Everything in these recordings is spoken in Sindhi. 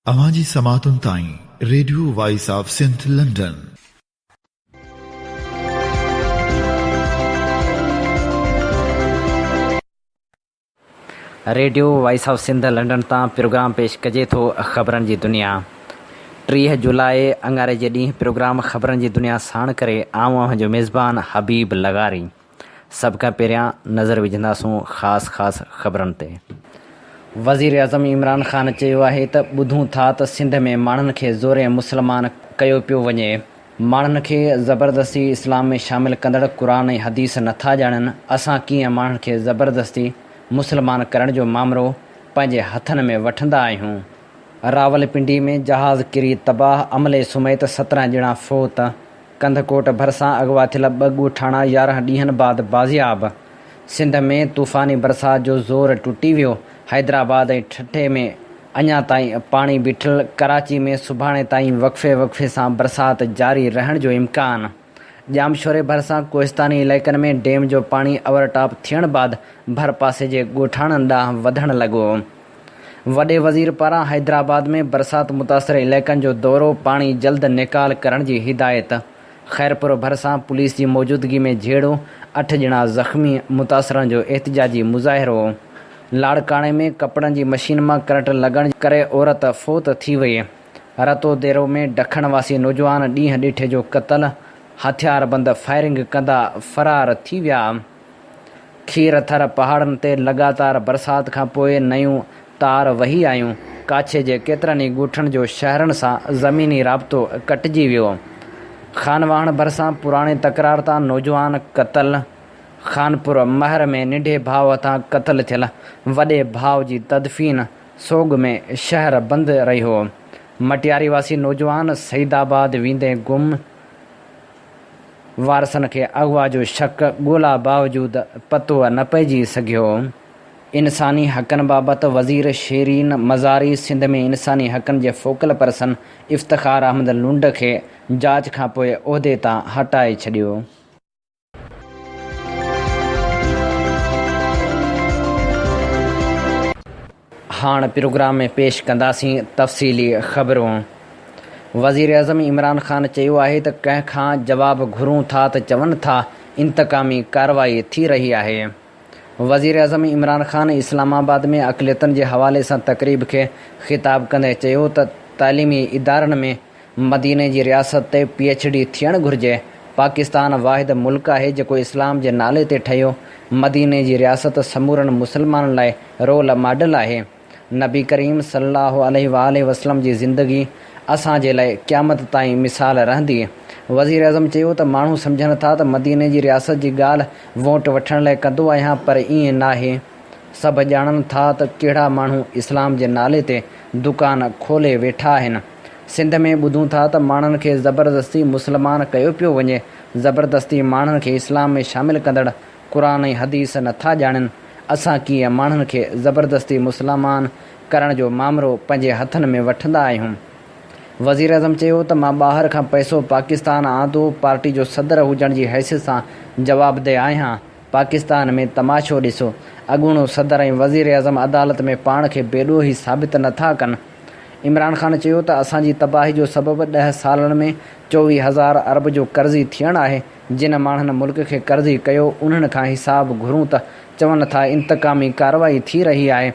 اوهان جي سماعتن تائين radio voice of Sindh London. Radio voice of Sindh London تان پروگرام پيش ڪجي ٿو خبرن جي دنيا. ٽيهه جولاء اڱاري جي ڏينهن پروگرام خبرن جي دنيا ساڻ ڪري آئون اوهان جو ميزبان حبيب لغاري. سڀ کان پهريان نظر وجهنداسون خاص خاص خبرن تي. وزيراعظم عمران خان چيو آهي ته ٻڌون ٿا ته سنڌ ۾ ماڻهن کي زورين مسلمان ڪيو پيو وڃي، ماڻهن کي زبردستي اسلام ۾ شامل ڪندڙ قرآن ۽ حديث نٿا ڄاڻن، اسان ڪيئن ماڻهن کي زبردستي مسلمان ڪرڻ جو مامرو پنهنجي هٿن ۾ وٺندا آهيون. راولپنڊي ۾ جهاز ڪري تباهه، عملي سميت سترهن ڄڻا فوت. ڪنڌڪوٽ ڀرسان اغوا ٿيل ٻه ڳوٺاڻا يارهن ڏينهن بعد بازياب، سنڌ ۾ طوفاني برسات جو زور ٽٽي ويو، حيدرآباد ۽ ٺٽي ۾ اڃا تائين پاڻي بيٺل، ڪراچي ۾ سڀاڻي تائين وقفي وقفي سان برسات جاري رهڻ جو امڪان، ڄامشوري ڀرسان ڪوهستاني علائقن ۾ ڊيم جو پاڻي اوورٽاپ ٿيڻ بعد ڀرپاسي جي ڳوٺاڻن ڏانهن وڌڻ لڳو. وڏي وزير پاران حيدرآباد ۾ برسات متاثر علائقن جو دورو، پاڻي جلد نيڪال ڪرڻ جي هدايت، خيرپور ڀرسان پوليس جي موجودگي ۾ جهيڙو، اٺ ڄڻا زخمي، متاثرن جو احتجاجي مظاهرو، لاڙڪاڻي ۾ ڪپڙن جي مشين مان ڪرنٽ لڳڻ ڪري عورت فوت ٿي وئي، رتوديرو ۾ ڊکڻ واسي نوجوان ڏينهن ڏيٺي جو قتل، هٿياربند فائرنگ ڪندا فرار ٿي ويا. کير ٿر پهاڙن تي لڳاتار برسات کان پوء نيون تار وهي آيون. ڪاڇي جي ڪيترن ئي ڳوٺن جو شهرن سان زميني رابطو ڪٽجي ويو. خانواهڻ ڀرسان پراڻي تڪرار تان نوجوان قتل، خانپور مهر ۾ ننڍي ڀاء هٿان قتل ٿيل وڏي ڀاء جي تدفين سوڳ ۾ شهر بند رهيو. مٽياري واسي نوجوان سعيدآباد ويندي گم، وارثن کي اغوا جو شڪ ڳولا باوجود پتو نه پئجي سگهيو. انساني حقن بابت وزير شيرين مزاري سنڌ ۾ انساني حقن جي فوڪل پرسن افتخار احمد لنڊ کي جاچ کانپوء عهدي تان هٽائي ڇڏيو. هاڻ پروگرام ۾ پيش ڪنداسين تفصيلي خبرون. وزيراعظم عمران خان چيو آهي ته ڪنهن کان جواب گهرون ٿا ته چون ٿا انتقامي ڪارروائي ٿي رهي آهي. وزيراعظم عمران خان اسلام آباد ۾ اقليتن جي حوالي سان تقريب کي خطاب ڪندي چيو ته تعليمي ادارن ۾ مديني جي رياست تي پي ايڇ ڊي ٿيڻ گهرجي، پاڪستان واحد ملڪ آهي جيڪو اسلام جي نالي تي ٺهيو، مديني جي رياست سمورن مسلمانن لاء رول ماڊل آهي، نبي ڪريم صلي الله عليه وآله وسلم جي زندگي اسان جي لاء قيامت تائين مثال رهندي، وزيراعظم چيو ته ماڻهو سمجهن ٿا ته مديني جي رياست جي ڳالهه ووٽ وٺڻ لاء ڪندو آهيان پر ائين ناهي، سڀ ڄاڻن ٿا ته ڪهڙا ماڻهو اسلام جي نالي تي دڪان کولي ويٺا آهن. سنڌ ۾ ٻڌون ٿا ته ماڻهن کي زبردستي مسلمان ڪيو پيو وڃي، زبردستي ماڻهن کي اسلام ۾ شامل ڪندڙ قرآن ۽ حديث نٿا ڄاڻين، اسان ڪيئن ماڻهن کي زبردستي مسلمان ڪرڻ جو مامرو پنهنجي هٿن ۾ وٺندا آهيون. وزيراعظم چيو ته مان ٻاهر کان پئسو پاڪستان آندو، پارٽي جو صدر هجڻ جي حيثيت سان جوابده آهيان، پاڪستان ۾ تماشو ڏسو، اڳوڻو صدر ۽ وزيراعظم عدالت ۾ پاڻ کي بيڏوهي ثابت نه ٿا ڪن. عمران خان چيو ته اسان جي تباهي جو سبب ڏهه سالن ۾ چوويهه هزار ارب جو قرضي ٿيڻ آهي، جن ماڻهن ملڪ کي قرضي ڪيو انهن کان حساب گهرون ته چون ٿا انتقامي ڪارروائي ٿي رهي آهي،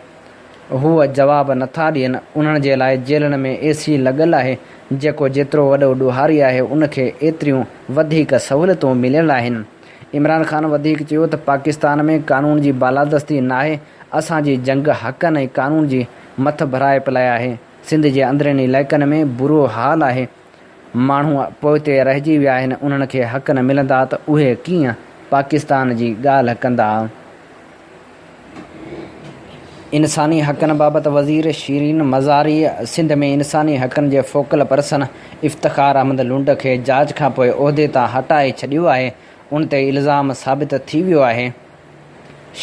هو جواب نه ٿا ڏين، انهن جي لاء جيلن ۾ اي سي لڳل آهي، جيڪو جيترو وڏو ڏوهاري آهي ان کي ايتريون وڌيڪ سهولتون مليل آهن. عمران خان وڌيڪ چيو ته پاڪستان ۾ قانون جي بالادستي ناهي، اسان جي جنگ حقن ۽ قانون جي مٿڀرائپ لاء آهي، سنڌ جي اندرين علائقن ۾ برو حال آهي، ماڻهو پوئتي رهجي ويا آهن، انهن کي حق نه ملندا ته اهي ڪيئن پاڪستان جي ڳالهه ڪندا. انساني حقن بابت وزير شيرين مزاريء سنڌ ۾ انساني حقن جي فوڪل پرسن افتخار احمد لنڊ کي جاچ کانپوء عهدي تان هٽائي ڇڏيو آهي، ان تي الزام ثابت ٿي ويو آهي.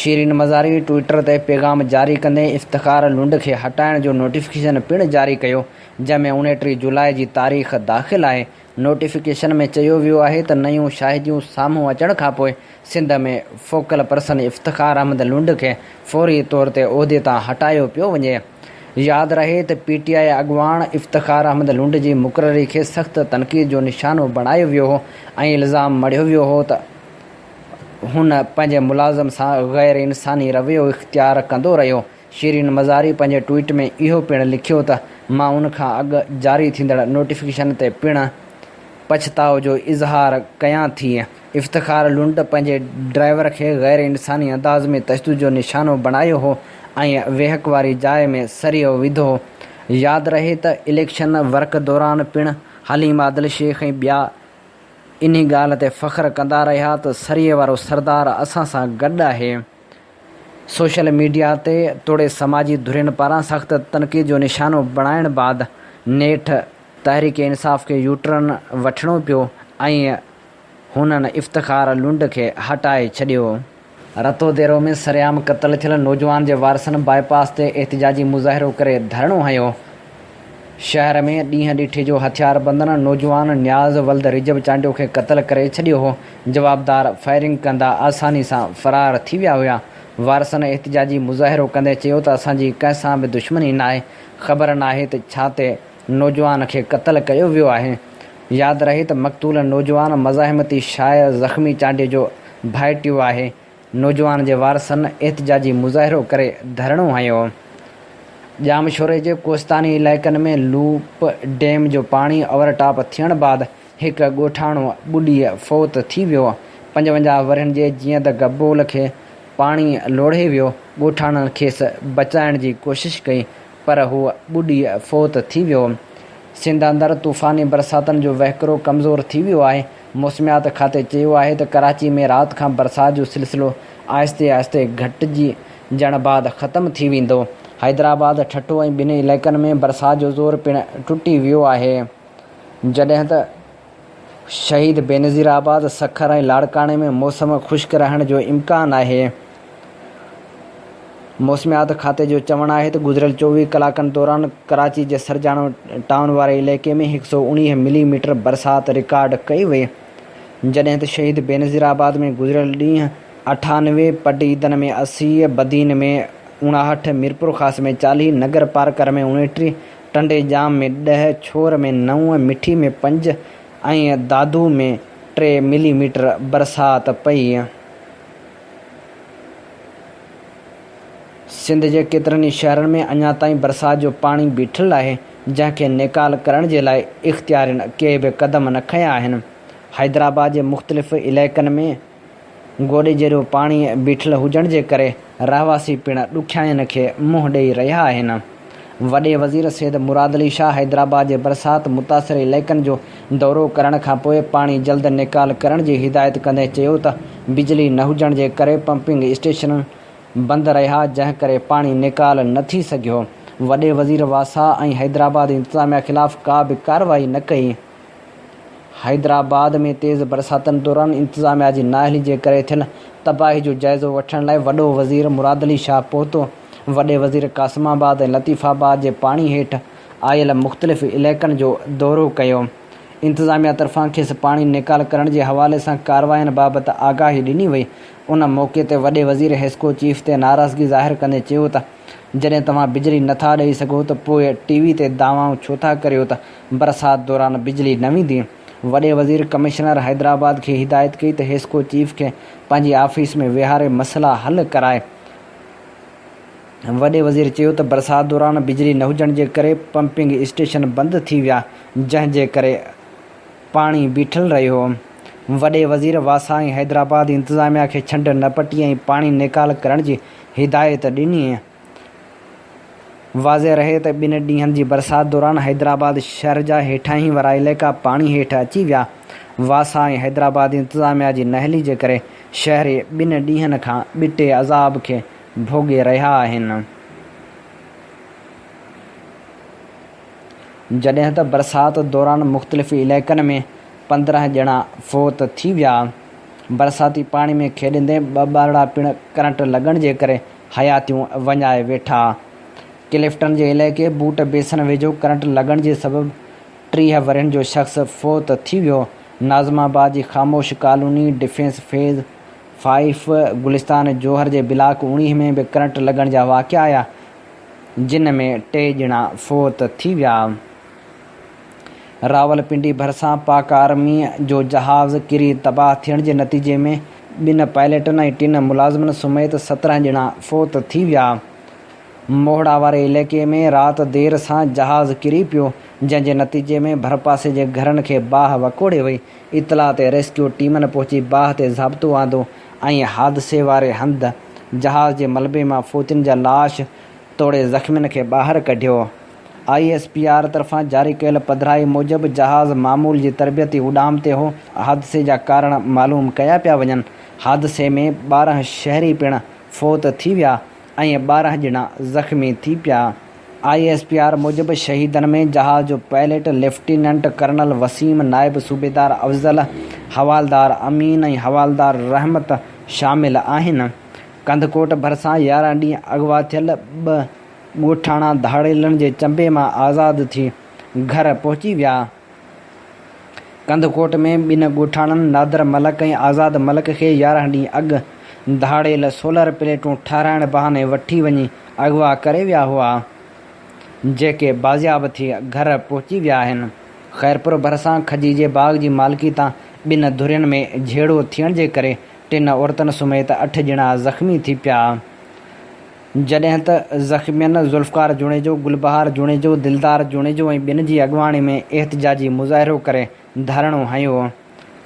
شيرين مزاريء ٽوئيٽر تي پيغام جاري ڪندي افتخار لنڊ کي هٽائڻ جو نوٽيفڪيشن پڻ جاري ڪيو، جنهن ۾ اڻٽيهه جولاء جي تاريخ داخل آهي، نوٽيفڪيشن ۾ چيو ويو آهي ته نيون شاهديون سامهون اچڻ کانپوء سنڌ ۾ فوڪل پرسن افتخار احمد لنڊ کي فوري طور تي عهدي تان هٽايو پيو وڃي. ياد رهي ته پي ٽي آء اڳواڻ افتخار احمد لنڊ جي مقرري کي سخت تنقيد جو نشانو بڻايو ويو هو ۽ الزام مڙهيو ويو هو ته هن پنهنجي ملازم سان غيرانساني رويو اختيار ڪندو رهيو شيرين مزاري پنهنجي ٽوئيٽ ۾ اهو پڻ لکيو ته مان ان کان اڳ جاري ٿيندڙ نوٽيفڪيشن تي پڻ پڇتاء جو اظهار ڪيان ٿي. افتخار لنڊ پنهنجي ڊرائيور کي غير انساني انداز ۾ تشدد جو نشانو بڻايو هو ۽ ويهڪ واري جاء ۾ سريو وڌو هو. ياد رهي ته اليڪشن ورڪ دوران پڻ حليم عادل شيخ ۽ ٻيا انهي ڳالهه تي فخر ڪندا رهيا ته سريي وارو سردار اسان سان گڏ آهي. سوشل ميڊيا تي توڙي سماجي ڌرين پاران سخت تنقيد جو نشانو بڻائڻ بعد نيٺ تحريڪ انصاف کي يوٽرن وٺڻو پيو ۽ هنن افتخار لنڊ کي هٽائي ڇڏيو. رتو ديرو ۾ سرعام قتل ٿيل نوجوان جي وارثن باء پاس تي احتجاجي مظاهرو ڪري ڌرڻو هنيو. شهر ۾ ڏينهن ڏٺي جو هٿياربندن نوجوان نياز ولد رجب چانڊيو کي قتل ڪري ڇڏيو هو، جوابدار فائرنگ ڪندا آساني سان فرار ٿي ويا هيا، وارثن احتجاجي مظاهرو ڪندي چيو ته اسان جي ڪنهن سان به دشمني ناهي، خبر ناهي ته ڇا تي نوجوان کي قتل ڪيو ويو آهي، ياد رهي ته مقتول نوجوان مزاحمتي شايع زخمي چانڊيو جو ڀائٽيو آهي، نوجوان جي وارثن احتجاجي مظاهرو ڪري ڌرڻو هنيو. ڄام شوري جي ڪوستاني علائقن ۾ لوپ ڊيم جو پاڻي اوور ٽاپ ٿيڻ بعد هڪ ڳوٺاڻو ٻڏي فوت ٿي ويو. پنجونجاهه ورهين جي جيئند گبول کي پاڻي لوڙهي ويو، ڳوٺاڻن کيس بچائڻ جي ڪوشش ڪئي پر هو ٻڏي فوت ٿي ويو. سنڌ اندر طوفاني برساتن جو وهڪرو ڪمزور ٿي ويو آهي، موسميات کاتي چيو آهي ته ڪراچي ۾ رات کان برسات جو سلسلو آهستي آهستي گهٽجڻ بعد ختم ٿي ويندو. حيدرآباد، ٺٽو ۽ ٻن علائقن ۾ برسات جو زور پڻ ٽٽي ويو آهي، جڏهن ته شهيد بينظير آباد، سکر ۽ لاڙڪاڻي ۾ موسم خشڪ رهڻ جو امڪان آهي. موسميات کاتي جو چوڻ آهي ته گذريل چوويهه ڪلاڪن دوران ڪراچي جي سرجاڻو ٽائون واري علائقي ۾ هڪ سؤ اڻيهه ملي ميٽر برسات رڪارڊ ڪئي وئي جڏهن ته شهيد بينظير آباد ۾ گذريل ڏينهن اٺانوي، پٽعيدن ۾ اسي، بدين ۾ اڻاهٺ، ميرپورخاص ۾ چاليهه، نگرپارڪر ۾ اڻيٽيهه، ٽنڊي ڄام ۾ ڏهه، ڇور ۾ نو، مٺي ۾ پنج ۽ دادو ۾ ٽي ملي ميٽر برسات پئي. سنڌ جي ڪيترن ئي شهرن ۾ اڃا تائين برسات جو پاڻي بيٺل آهي، جنهن کي نيڪال ڪرڻ جي لاء اختيارين ڪي به قدم نه کنيا آهن. حيدرآباد جي مختلف علائقن ۾ گوڏي جيڏو پاڻي بيٺل هجڻ جي ڪري رهواسي پڻ ڏکيائين کي منهن ڏئي رهيا آهن. وڏي وزير سيد مراد علي شاهه حيدرآباد جي برسات متاثر علائقن جو دورو ڪرڻ کانپوء پاڻي جلد نيڪال ڪرڻ جي هدايت ڪندي چيو ته بجلي نه هجڻ جي ڪري پمپنگ اسٽيشن بند رهيا جنهن ڪري پاڻي نيڪال نه ٿي سگهيو وڏي وزير واسا ۽ حيدرآباد انتظاميا خلاف ڪا به ڪارروائي نه ڪئي. حيدرآباد ۾ تيز برساتن دوران انتظاميا جي نااهلي جي ڪري ٿيل تباهي جو جائزو وٺڻ لاء وڏو وزير مراد علي شاهه پهتو، وڏي وزير قاسم آباد ۽ لطيف آباد جي پاڻي هيٺ آيل مختلف علائقن جو دورو ڪيو، انتظاميا طرفان کيس پاڻي نيڪال ڪرڻ جي حوالي سان ڪاررواين بابت آگاهي ڏني وئي، ان موقعي تي وڏي وزير حيسڪو چيف تي ناراضگي ظاهر ڪندي چيو ته جڏهن توهان بجلي نٿا ڏئي سگهو ته پوء ٽي وي تي دعوائون ڇو ٿا ڪريو ته برسات دوران بجلي نه ويندي، وڏي وزير ڪمشنر حيدرآباد کي هدايت ڪئي ته حيسڪو چيف کي پنهنجي آفيس ۾ ويهاري مسئلا حل ڪرائي. وڏي وزير چيو ته برسات دوران بجلي نه هجڻ جي ڪري پمپنگ اسٽيشن بند ٿي ويا جنهن جي ڪري پاڻي بيٺل رهيو. وڏي وزير واسائين حيدرآباد انتظاميا کي ڇنڊ نه پٽي ۽ پاڻي نيڪال ڪرڻ جي هدايت ڏني. واضح رهي ته ٻن ڏينهن جي برسات دوران حيدرآباد شهر جا هيٺاهين وارا علائقا پاڻي هيٺ اچي ويا. واسا ۽ حيدرآباد انتظاميا جي نااهلي جي ڪري شهري ٻن ڏينهن کان ٻٽي عذاب کي ڀوڳي رهيا آهن. جڏهن ته برسات دوران مختلف علائقن ۾ پندرهن ڄڻا فوت ٿي ويا. برساتي پاڻي ۾ کيڏندي ٻه ٻارڙا پڻ ڪرنٽ لڳڻ جي ڪري حياتيون وڃائي ويٺا. ڪلفٽن جي علائقي بوٽ بيسن ويجهو ڪرنٽ لڳڻ جي سبب ٽيهه ورهين جو شخص فوت ٿي ويو. ناظم آباد جي Khamosh colony, defence phase five, Gulistan Johar جي بلاڪ اوڻيهه ۾ به ڪرنٽ لڳڻ جا واقعا آيا، جن ۾ ٽي ڄڻا فوت ٿي ويا. راولپنڊي ڀرسان پاڪ آرمي جو جهاز ڪري تباهه ٿيڻ جي نتيجي ۾ ٻن پائليٽن ۽ ٽن ملازمن سميت سترهن ڄڻا فوت ٿي ويا. موهڙا واري علائقي ۾ رات دير سان جهاز ڪري پيو، جنهن جي نتيجي ۾ ڀرپاسي جي گهرن کي باهه وڪوڙي وئي. اطلاع تي ريسڪيو ٽيمن پهچي باهه تي ضابطو آندو ۽ حادثي واري هنڌ جهاز جي ملبي مان فوتين جا لاش توڙي زخمين کي ٻاهر ڪڍيو. آء ايس پي آر طرفان جاري ڪيل پڌرائي موجب جهاز معمول جي تربيتي اڏام تي هو، حادثي جا ڪارڻ معلوم ڪيا پيا وڃن، حادثي ۾ ٻارهن شهري پڻ فوت ٿي ويا ۽ ٻارهن ڄڻا زخمي ٿي پيا، آء ايس پي آر موجب شهيدن ۾ جهاز جو پائليٽ ليفٽيننٽ ڪرنل وسيم، نائب صوبيدار افضل، حوالدار امين ۽ حوالدار رحمت شامل آهن، ڪنڌڪوٽ ڀرسان يارهن ڏينهن اغوا ٿيل ٻه ڳوٺاڻا ڌاڙيلن جي چنبي مان آزاد ٿي گهر پهچي ويا. ڪنڌڪوٽ ۾ ٻن ڳوٺاڻن نادر ملڪ ۽ آزاد ملڪ کي يارهن ڏينهن اڳ ڌاڙيل سولر پليٽون ٺهرائڻ بهاني وٺي وڃي اغوا ڪري ويا هئا، جيڪي بازياب ٿي گهر پهچي ويا آهن. خيرپور ڀرسان کجي جي باغ جي مالڪي تان ٻن ڌرين ۾ جهيڙو ٿيڻ جي ڪري ٽن عورتن سميت اٺ ڄڻا زخمي ٿي پيا. جڏهن ته زخمين ذوالفقار جوڻيجو، گلبهار جوڻيجو، دلدار جوڻيجو ۽ ٻين جي اڳواڻي ۾ احتجاجي مظاهرو ڪري ڌرڻو هنيو.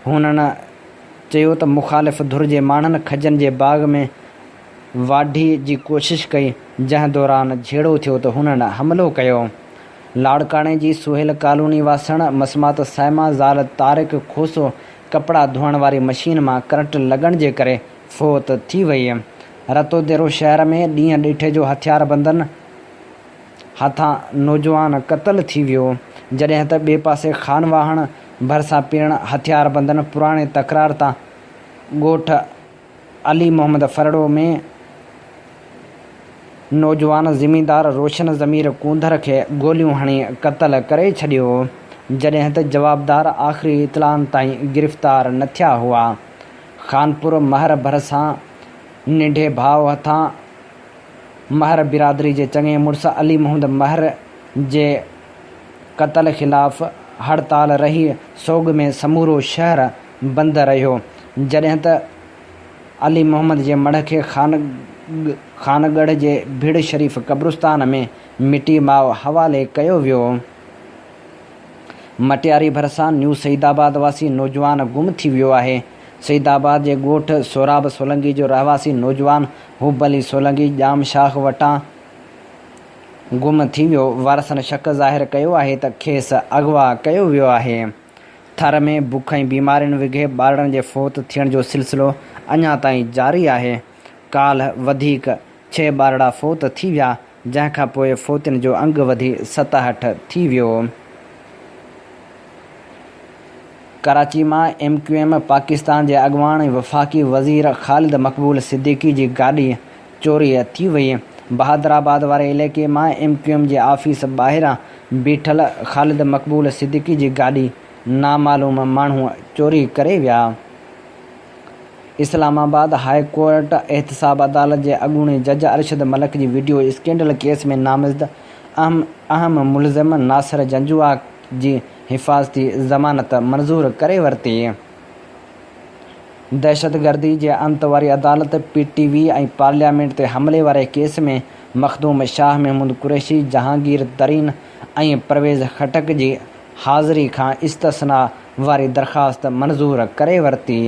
هنن چيو ته مخالف ڌر جي ماڻهن کجن جي باغ ۾ واڍي جي ڪوشش ڪئي، جنهن دوران جهيڙو ٿيو ته هنن حملو ڪيو. لاڙڪاڻي جي سهيل ڪالوني واسڻ مسمات صائمه زال طارق کوسو ڪپڙا ڌوئڻ واري مشين مان ڪرنٽ لڳڻ جي ڪري فوت ٿي وئي. رتوديرو شهر ۾ ڏينهن ڏيٺي جو هٿياربندن هٿان نوجوان قتل ٿي ويو، جڏهن ته ٻئي پاسي خانواهڻ ڀرسان پڻ هٿياربندن پراڻي تڪرار تان ڳوٺ علي محمد ڦرڙو ۾ نوجوان زميندار روشن ضمير ڪونڌر کي گوليون هڻي قتل ڪري ڇڏيو، جڏهن ته جوابدار آخري اطلاعن تائين گرفتار نه ٿيا هئا. خانپور مهر ڀرسان ننڍي ڀاء هٿان مهر برادري جي چڱي مڙس علي محمد مهر جي قتل خلاف هڙتال رهي سوڳ ۾ سمورو شهر بند رهيو جڏهن ته علي محمد جي مڙهه کي خانڳڙهه جي ڀيڙ شريف قبرستان ۾ مٽي ماء حوالي ڪيو ويو. مٽياري ڀرسان نيو سعيد آباد واسي نوجوان گم ٿي ويو آهي. سعيد آباد جي ڳوٺ سهراب سولنگي جو رهواسي نوجوان حب علي سولنگي ڄام شاخ وٽان گم ٿي ويو، وارثن شڪ ظاهر ڪيو آهي ته کيس اغوا ڪيو ويو آهي. ٿر ۾ بک ۽ بيمارين وگهي ٻارڙن جي فوت ٿيڻ جو سلسلو اڃا تائين جاري آهي. ڪالهه وڌيڪ ڇهه ٻارڙا فوت ٿي ويا، جنهن کان پوء فوتين جو انگ وڌي ستاهٺ ٿي ويو. ڪراچي مان ايم ڪيو ايم پاڪستان جي اڳواڻ وفاقي وزير خالد مقبول صديقي جي گاڏي چوري ٿي وئي. بهادرآباد واري علائقي مان ايم ڪيو ايم جي آفيس ٻاهران بيٺل خالد مقبول صديقي جي گاڏي نامعلوم ماڻهو چوري ڪري ويا. اسلام آباد هاء ڪورٽ احتساب عدالت جي اڳوڻي جج ارشد ملڪ جي وڊيو اسڪينڊل ڪيس ۾ نامزد اهم ملزم ناصر جنجوعا جي حفاظتي ضمانت منظور ڪري ورتي. دهشتگردي جي انت واري عدالت، پي ٽي وي ۽ پارليامينٽ تي حملي واري ڪيس ۾ مخدوم شاهه، محمود قريشي، جهانگير ترين ۽ پرويز خٽڪ جي حاضري کان استثنيٰ واري درخواست منظور ڪري ورتي.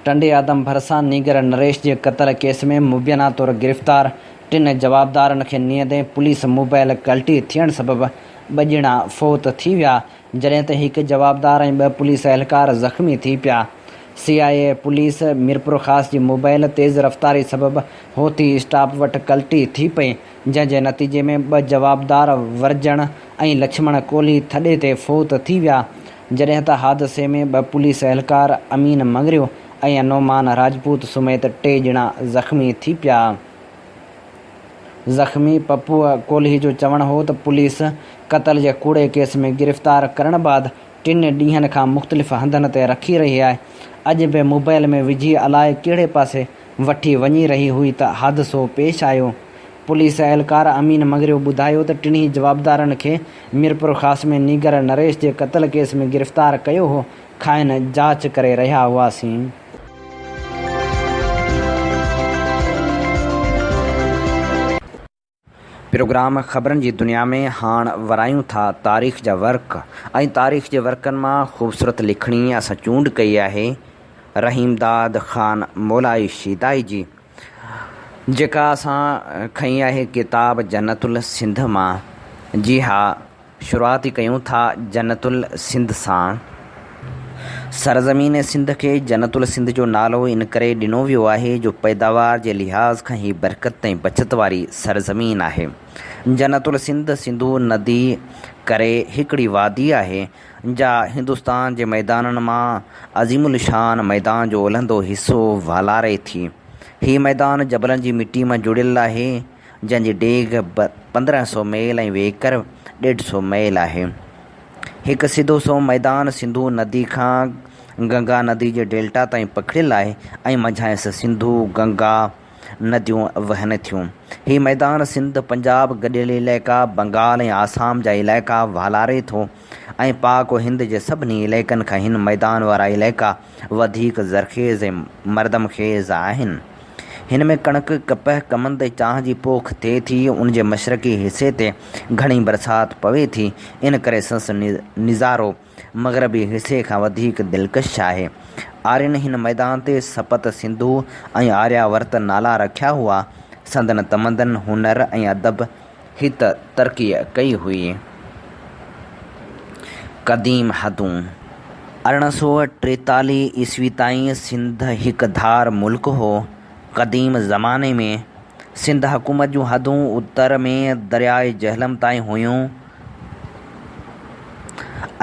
ٽنڊي آدم ڀرسان نينگر نريش جي قتل ڪيس ۾ مبينا طور گرفتار ٽن جوابدارن کي نيندي پوليس موبائل ڪلٽي ٿيڻ سبب ٻه ڄڻا فوت ٿي ويا جڏهن ته هڪ جوابدار ۽ ٻه پوليس اهلڪار زخمي ٿي پيا. C I A police Mirpurkhas جي موبائل تيز رفتاري سبب هوٿي اسٽاپ وٽ ڪلٽي ٿي پئي، جنهن جي نتيجي ۾ ٻه جوابدار ورجڻ ۽ لڇمڻ ڪولهي ٿڏي تي فوت ٿي ويا، جڏهن ته حادثي ۾ ٻه پوليس اهلڪار امين مڱريو ۽ نعمان راجپوت سميت ٽي ڄڻا زخمي ٿي پيا. زخمي پپوء ڪولهي جو چوڻ هو ته پوليس قتل جي ڪوڙي ڪيس ۾ گرفتار ڪرڻ بعد ٽن ڏينهن کان مختلف هنڌن تي رکي رهي آهي، اڄ به موبائيل ۾ وجهي الائي ڪهڙي پاسي وٺي وڃي رهي هئي ته حادثو پيش آيو. پوليس اهلڪار امين مڱريو ٻڌايو ته ٽنهي جوابدارن کي ميرپورخاص ۾ نينگر نريش جي قتل ڪيس ۾ گرفتار ڪيو هو، کانئن جاچ ڪري رهيا هئاسين. پروگرام خبرن جي دنيا ۾ هاڻ ورايون ٿا تاريخ جا ورق ۽ تاريخ جي ورقن مان خوبصورت لکڻي اسان چونڊ ڪئي آهي رحيم داد خان مولائي شيدائي جي جيڪا اسان کنئي آهي ڪتاب جنت السنڌ مان جي ها شروعات ئي ڪيون ٿا جنت السنڌ سان. سرزمين سنڌ کي جنت السنڌ جو نالو ان ڪري ڏنو ويو آهي جو پيداوار جي لحاظ کان هي برڪت ۽ بچت واري سرزمين آهي. جنت السنڌ سنڌو ندي ڪري هڪڙي وادي آهي جا هندستان جي ميدانن مان عظيم الشان ميدان جو الهندو حصو والاري ٿي. هي ميدان جبلن جي مٽي مان جڙيل آهي. جنهن جي ڊيگهه پندرهن سؤ ميل ۽ ويڪر ڏيڍ سؤ ميل آهي. هڪ سڌو سنئون ميدان سنڌو ندي کان گنگا ندي جي ڊيلٽا تائين پکڙيل آهي ۽ منجهانئس سنڌو، گنگا نديون وهن ٿيون. هي ميدان سنڌ، پنجاب، گڏيل علائقا، بنگال ۽ آسام جا علائقا والاري ٿو ۽ پاڪ و هند جي سڀني علائقن کان هن ميدان وارا علائقا وڌيڪ زرخيز ۽ مردم خيز آهن. هن ۾ ڪڻڪ، ڪپهه، ڪمند ۽ چانهه جي پوک ٿئي ٿي. ان جي مشرقي حصي تي گهڻي برسات پوي ٿي، ان ڪري سنس نظارو مغربي حصي کان وڌيڪ دلڪش آهي. آرين هن ميدان تي سپت سنڌو ۽ آريا ورت نالا رکيا هئا. سندن تمدن، هنر ۽ ادب هت ترقيء ڪئي هئي. قديم حدون، ارڙهن سؤ ٽيتاليهه عيسوي تائين سنڌ هڪ ڌار ملڪ هو. قديم زماني ۾ سنڌ حڪومت جون حدون اتر ۾ درياء جهلم تائين هيون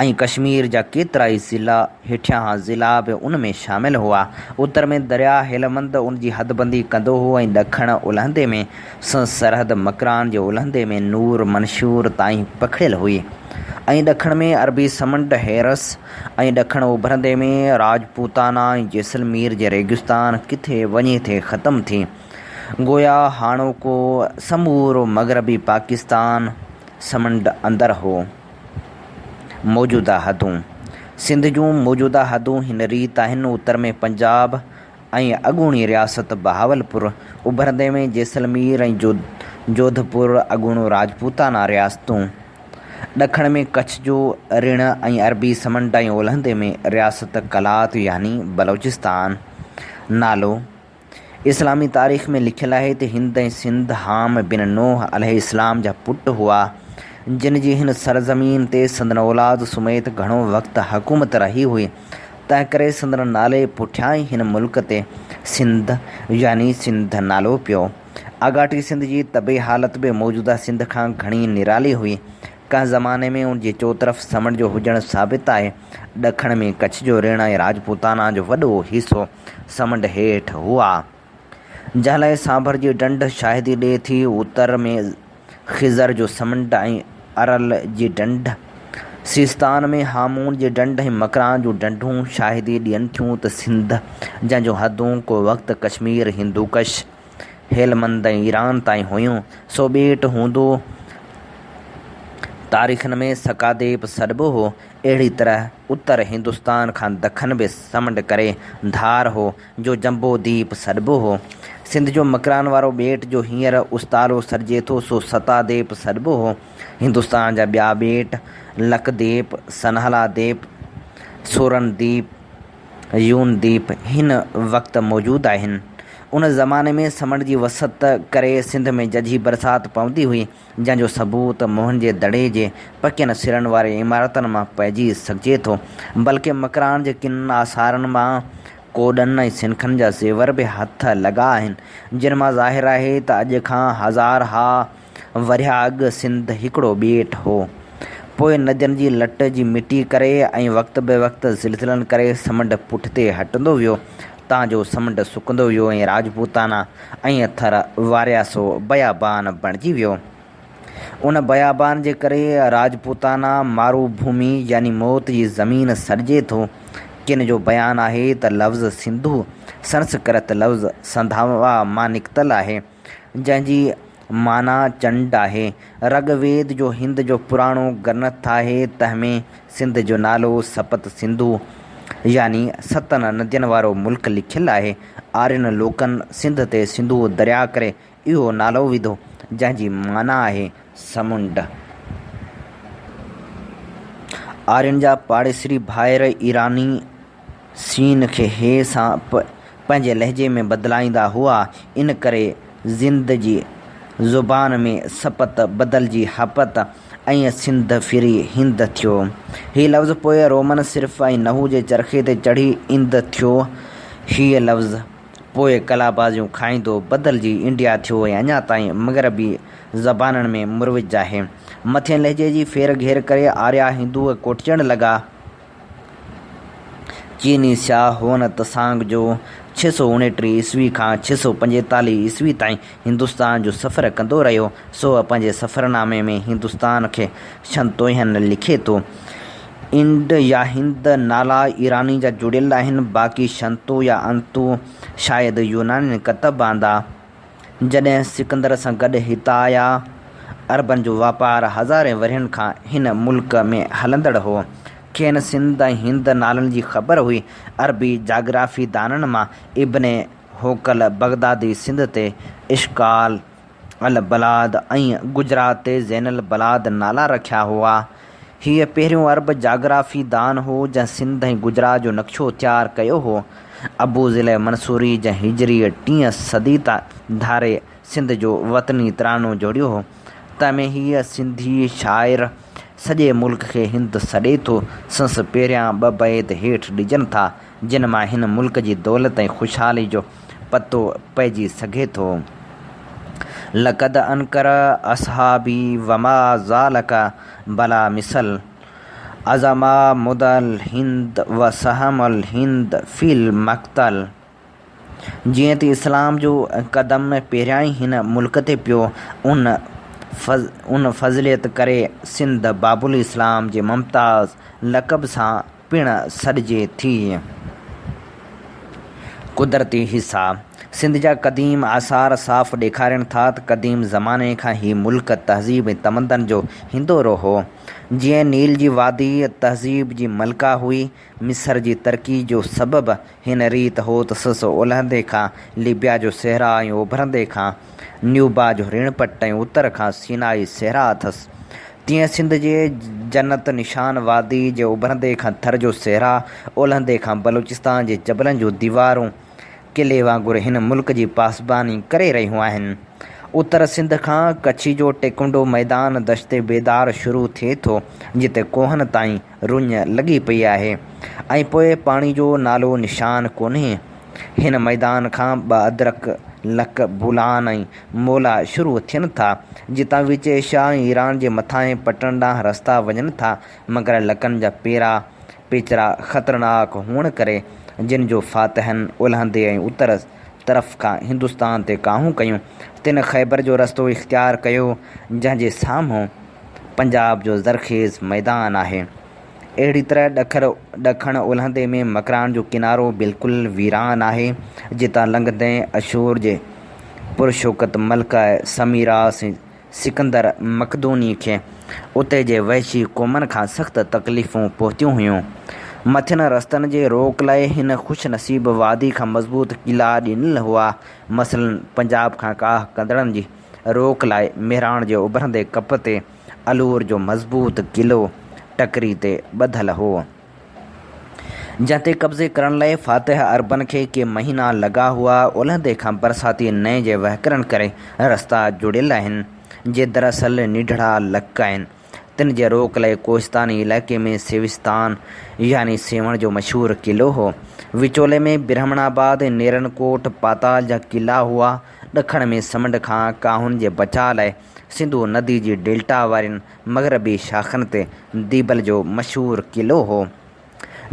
۽ ڪشمير جا ڪيترائي ضلعا، هيٺيان ضلعا به ان ۾ شامل هئا. اتر ۾ درياء هيلمند ان جي حدبندي ڪندو هو ۽ ڏکڻ اولهندي ۾ سنڌ سرحد مڪران جي اولهندي ۾ نور منشور تائين پکڙيل هئي ۽ ڏکڻ ۾ عربي سمنڊ، حيرس، ۽ ڏکڻ اوڀرندي ۾ راجپوتانا ۽ جيسلمير جي ريگستان ڪٿي وڃي ٿي ختم ٿي. گويا هاڻوڪو سمورو مغربي پاڪستان سمنڊ اندر هو. موجوده حدون، سنڌ جون موجوده حدون هن ريت آهن، اتر ۾ پنجاب، ۽ اڳوڻي رياست بهاولپور، اڀرندي ۾ جيسلمير ۽ جوڌ پور، اڳوڻو راجپوتانا رياستون، ڏکڻ ۾ ڪڇ جو رڻ ۽ عربي سمنڊ ۽ اولهندي ۾ رياست قلات يعني بلوچستان نالو اسلامي تاريخ ۾ لکيل آهي ته هند ۽ سنڌ حام بن نوح عليه السلام جا پٽ هئا جن جي هن سرزمين تي سندن اولاد سميت گهڻو وقت حڪومت رهي هئي. تنهنڪري سندن نالي پٺيان ئي هن ملڪ تي سنڌ يعني سنڌ نالو پيو. آڳاٽي سنڌ جي طبعي حالت به موجوده سنڌ کان گهڻي نرالي هئي. ڪنهن زماني ۾ ان جي چوطرف سمنڊ جو هجڻ ثابت آهي. ڏکڻ ۾ ڪڇ جو رڻ ۽ راجپوتانا جو وڏو حصو سمنڊ هيٺ هئا. جنهن لاء سانڀر جي ڍنڍ شاهدي ڏئي ٿي. اتر ۾ خضر جو سمنڊ ۽ ارل جي ڍنڍ، سيستان ۾ هامون جي ڍنڍ ۽ مڪران جون ڍنڍون شاهدي ڏين ٿيون ته سنڌ، جنهن جون حدون ڪو وقت ڪشمير، هندوڪش، هيلمند ۽ ايران تائين هيون، سو ٻيٽ هوندو تاريخن ۾ سڪاديپ سڏبو هو. اهڙي طرح اتر هندستان کان دکن به سمنڊ ڪري ڌار هو. جو جنبو ديپ سڏبو هو. سنڌ جو مڪران وارو ٻيٽ جو هينئر استارو سڏجي ٿو سو ستا ديپ سڏبو هو. هندستان جا ٻيا ٻيٽ لڪ ديپ، سنهالا ديپ، سورن ديپ، يون ديپ هن وقت موجود آهن. ان زماني ۾ سمنڊ جي وسعت ڪري سنڌ ۾ ججهي برسات پوندي هئي. جنهن جو ثبوت موهن جي دڙي جي پڪين سرن واري عمارتن مان پئجي سگهجي ٿو، بلڪه مڪران جي ڪن آثارن مان ڪوڏن ۽ سنکن جا زيور به هٿ لڳا آهن، جن مان ظاهر آهي ته اڄ کان هزارها ورهيه اڳ سنڌ هڪڙو ٻيٽ هو، پوء ندين جي لٽ جي مٽي ڪري ۽ وقت بوقت زلزلن ڪري سمنڊ پٺتي هٽندو ويو، تان جو سمنڊ سڪندو ويو ۽ راجپوتانا ۽ ٿر وارياسو بيابان بڻجي ويو. ان بيابان جي ڪري راجپوتانا مارو ڀومي يعني موت جي زمين سڏجي ٿو. ڪن جو بيان آهي ته لفظ سنڌو سنسڪرت لفظ سنڌاوا مان نڪتل آهي، جنهن جي معنيٰ چنڊ آهي. رگ ويد جو هند جو پراڻو گرنٿ آهي، تنهن ۾ سنڌ جو نالو سپت سنڌو يعني ستن ندين وارو ملڪ لکيل آهي. آرين لوڪن سنڌ تي سنڌو درياء ڪري اهو نالو وڌو، جنهن جي معنيٰ آهي سمنڊ. آرين جا پاڙيسري ڀائر ايراني. سين کي هيء سان پ پنهنجي لهجي ۾ بدلائيندا هئا، ان ڪري زند جي زبان ۾ سپت بدلجي هپت ۽ سنڌ ڦري هند ٿيو. هيء لفظ پوء رومن صرف ۽ نحو جي چرخي تي چڙهي اند ٿيو. هيء لفظ پوء ڪلا بازيون کائيندو بدلجي انڊيا ٿيو ۽ اڃا تائين مغربي زبانن ۾ مروج آهي. مٿين لهجي جي ڦير گهير ڪري آريا هندوء ڪوٺجڻ لڳا. چيني سياح هوئن تسانگ جو ڇهه سؤ اڻٽيهه عيسوي کان ڇهه سؤ پنجيتاليهه عيسوي تائين هندستان جو سفر ڪندو رهيو، سو پنهنجي سفرنامي ۾ هندستان کي شنتوئين لکي ٿو. انڊ يا هند نالا ايراني جا جڙيل آهن، باقي شنتو يا انتو شايد يونانين ڪتب آندا. جڏهن سڪندر سان گڏ هتان آيا. عربن جو واپار هزارين ورهين کان هن ملڪ ۾ هلندڙ هو. کين سنڌ ۽ هند نالن جي خبر هئي. عربي جاگرافي دانن مان ابن هوڪل بغدادي سنڌ تي اشڪال البلاد ۽ گجرات تي زين البلاد نالا رکيا هئا. هيء پهريون عرب جاگرافي دان هو، جنهن سنڌ ۽ گجرات جو نقشو تيار ڪيو هو. ابو ضلع منصوري، جنهن هجريء ٽين صديء تان ڌاري سنڌ جو وطني ترانو جوڙيو هو، تنهن ۾ هيء سنڌي شاعر سڄي ملڪ کي هند سڏي ٿو. سنس پهريان ٻه بيت هيٺ ڏجن ٿا، جن مان هن ملڪ جي دولت ۽ خوشحالي جو پتو پئجي سگهي ٿو. لقد انکر اصحابي وما ذالک بلا مثل عظم مدع الهند و سهم الهند في المقتل جيئن ته اسلام جو قدم پهريائين هن ملڪ تي پيو ان ان فضليت ڪري سنڌ باب الاسلام جي ممتاز لقب سان پڻ سڏجي ٿي. قدرتي حصا، سنڌ جا قديم آثار صاف ڏيکارين ٿا ته قديم زماني کان هي ملڪ تهذيب ۽ تمدن جو هندورو هو. جيئن نيل جي وادي تهذيب جي ملڪه هئي، مصر جي ترقي جو سبب هن ريت هوت سس اولهندي کان ليبيا جو صحرا ۽ اوڀرندي کان نيوبا جو ريڻ پٽ ۽ اتر کان سينائي صحرا اٿس. تيئن سنڌ جي جنت نشان وادي جي اوڀرندي کان ٿر جو صحرا، اولهندي کان بلوچستان جي جبلن جون ديوارون قلعي وانگر هن ملڪ جي پاسباني ڪري رهيون آهن. اتر سنڌ کان ڪڇي جو ٽيڪنڊو ميدان دشت بيدار شروع ٿئي ٿو، جتي ڪوهن تائين رڃ لڳي پئي آهي ۽ پوء پاڻي جو نالو نشان ڪونهي. هن ميدان کان ٻه ادرڪ، لڪ، بولان ۽ مولا شروع ٿين ٿا، جتان وچي شاهه ۽ ايران جي مٿانهين پٽڻ ڏانهن رستا وڃن ٿا، مگر لڪن جا پيرا، پيچرا، خطرناڪ هئڻ ڪري، جن جو فاتحن اولهندي ۽ اتر طرف کان هندستان تي ڪاهون ڪيون، تن خيبر جو رستو اختيار ڪيو، جنهن جي سامهون. پنجاب جو زرخيز ميدان آهي. اهڙي طرح ڏکر ڏکڻ اولهندي ۾ مڪران جو ڪنارو بلڪل ويران آهي، جتان لنگهندي اشور جي پرشوڪت ملڪه سميراس سڪندر مقدوني کي اتي جي وحشي قومن کان سخت تڪليفون پهتيون هيون. مٿين رستن جي روڪ لاء هن خوش نصيب وادي کان مضبوط قلعا ڏنل هئا، مثلاً پنجاب کان ڪاهه ڪندڙن جي. روڪ لاء مهراڻ جي اڀرندي ڪپ تي الور جو مضبوط قلعو ٽڪري تي ٻڌل هو، جنهن تي قبضي ڪرڻ لاء فاتح عربن کي ڪي مهينا لڳا هئا. اولهندي کان برساتي نئين جي وهڪرن ڪري رستا جڙيل آهن، جي دراصل نيڍڙا لڪ آهن. تن جي روڪ لئي ڪوهستاني علائقي ۾ سيوستان يعني سيوهڻ جو مشهور قلعو هو. وچولي ۾ برهمڻ آباد، نيرن ڪوٽ، پاتال جا قلعا هئا. ڏکڻ ۾ سمنڊ کان ڪاهن جي بچاء لاء سنڌو ندي جي ڊيلٽا وارين مغربي شاخن تي ديبل جو مشهور قلعو هو.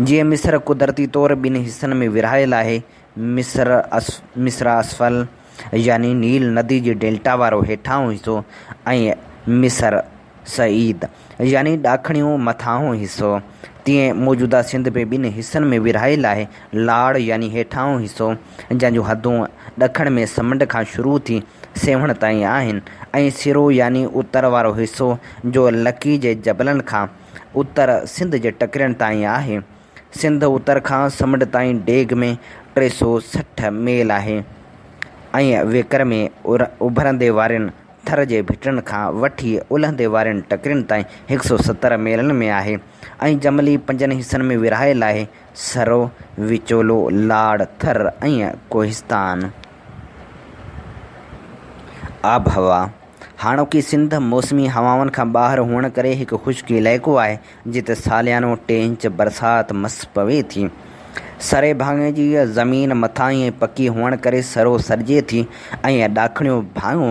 جيئن مصر قدرتي طور ٻن حصن ۾ ورهايل آهي، مصرع اسفل يعني نيل ندي جي ڊيلٽا وارو هيٺاهون حصو ۽ مصرع صعيد يعني ڏاکڻيون مٿانهون حصو، تيئن موجوده سنڌ به ٻن حصن ۾ ورهايل آهي، لاڙ يعني هيٺاهون حصو، جنهن جون حدون ڏکڻ ۾ سمنڊ کان شروع ٿي سيوهڻ تائين آهن ۽ سرو يعني اتر وارو حصو جو لڪي جي جبلن کان اتر سنڌ جي ٽڪرين تائين آهي. سنڌ اتر کان سمنڊ تائين ڊيگهه ۾ ٽي سؤ سٺ ميل آهي ۽ ويڪر ۾ اڀرندي وارين ٿر جي ڀٽن کان وٺي الهندي وارين ٽڪرين تائين هڪ سؤ ستر ميلن ۾ آهي ۽ جملي پنجن حصن ۾ ورهايل آهي، سرو، وچولو، لاڙ، ٿر ۽ ڪوهستان. آبهوا، هاڻوڪي سنڌ موسمي هوائن کان ٻاهر هئڻ ڪري هڪ خشڪ علائقو آهي، جتي ساليانو ٽي انچ برسات مس پوي ٿي. سري ڀاڱي جي زمين مٿاهين ۽ پڪي هئڻ ڪري سرو سڏجي ٿي ۽ ڏاکڻيو ڀاڱو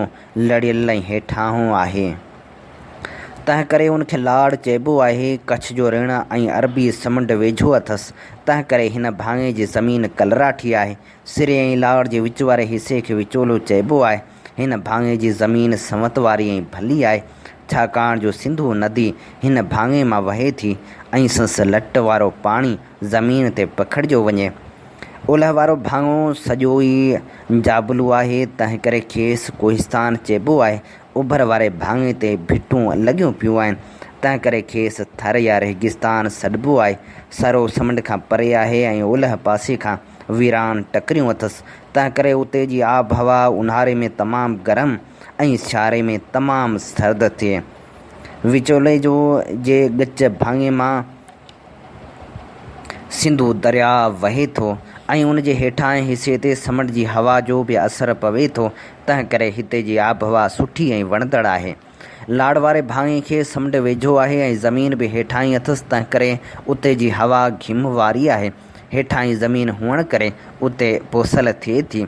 لڙيل ۽ هيٺاهون آهي. تنهن ڪري ان کي لاڙ چئبو آهي. ڪڇ جو رڻ ۽ عربي سمنڊ ويجهو اٿس، تنهن ڪري هن ڀاڱي جي زمين ڪلراٺي آهي. سري ۽ لاڙ جي وچ واري حصي کي وچولو چئبو آهي. هن ڀاڱي جي زمين سنوت واري ۽ ڀلي آهي، ڇاڪاڻ جو سنڌو ندي هن ڀاڱي مان وهي ٿي ۽ سنس لٽ وارو پاڻي زمين تي پکڙجيو وڃي. اولهه وارو ڀاڱو سڄو ئي جابلو آهي، تنهنڪري کيس ڪوهستان چئبو آهي. اوڀر واري ڀاڱي تي ڀٽون لڳيون پيون آهن، تنهنڪري کيس ٿر يا ريگستان سڏبو آهي. سرو سمنڊ کان پري آهي ۽ اولهه پاسي کان ويران ٽڪريون اٿس، تنهنڪري اتي جي آب هوا اونهاري ۾ تمام گرم ۽ سياري ۾ تمام سرد ٿئي. وچولي جو جي ڳچ ڀاڱي مان سنڌو درياء وهي ٿو ۽ ان جي هيٺاهين حصي تي سمنڊ جي هوا جو به اثر پوي ٿو، تنهنڪري هتي جي آبهوا سٺي ۽ وڻندڙ آهي. لاڙ واري ڀاڱي کي سمنڊ ويجهو آهي ۽ زمين به هيٺاهين اٿس تنهنڪري اتي جي هوا گهم واري آهي. هيٺاهين زمين هئڻ ڪري اتي پوسل ٿئي ٿي.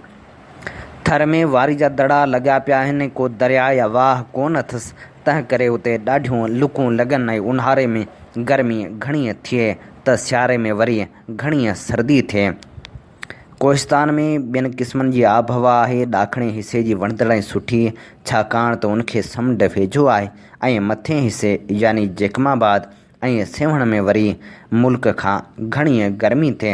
ٿر ۾ واري جا دڙا لڳا پيا آهن ۽ ڪو درياء يا واهه ڪونه اٿس تنهنڪري اتي ڏاڍيون لڪون لڳن ۽ اونهاري ۾ گرمي گهڻي ٿئي ته سياري ۾ وري گهڻي سردي ٿئي. ڪوهستان ۾ ٻين قسمن جي آبهوا آهي. ڏاکڻي حصي جي وڻندڙ ۽ سٺي، ڇاڪاڻ ته ان کي سمنڊ ويجهو آهي ۽ مٿئين حصي يعني جيڪب آباد ۽ سيوهڻ ۾ وري ملڪ کان گهڻيء گرمي تي،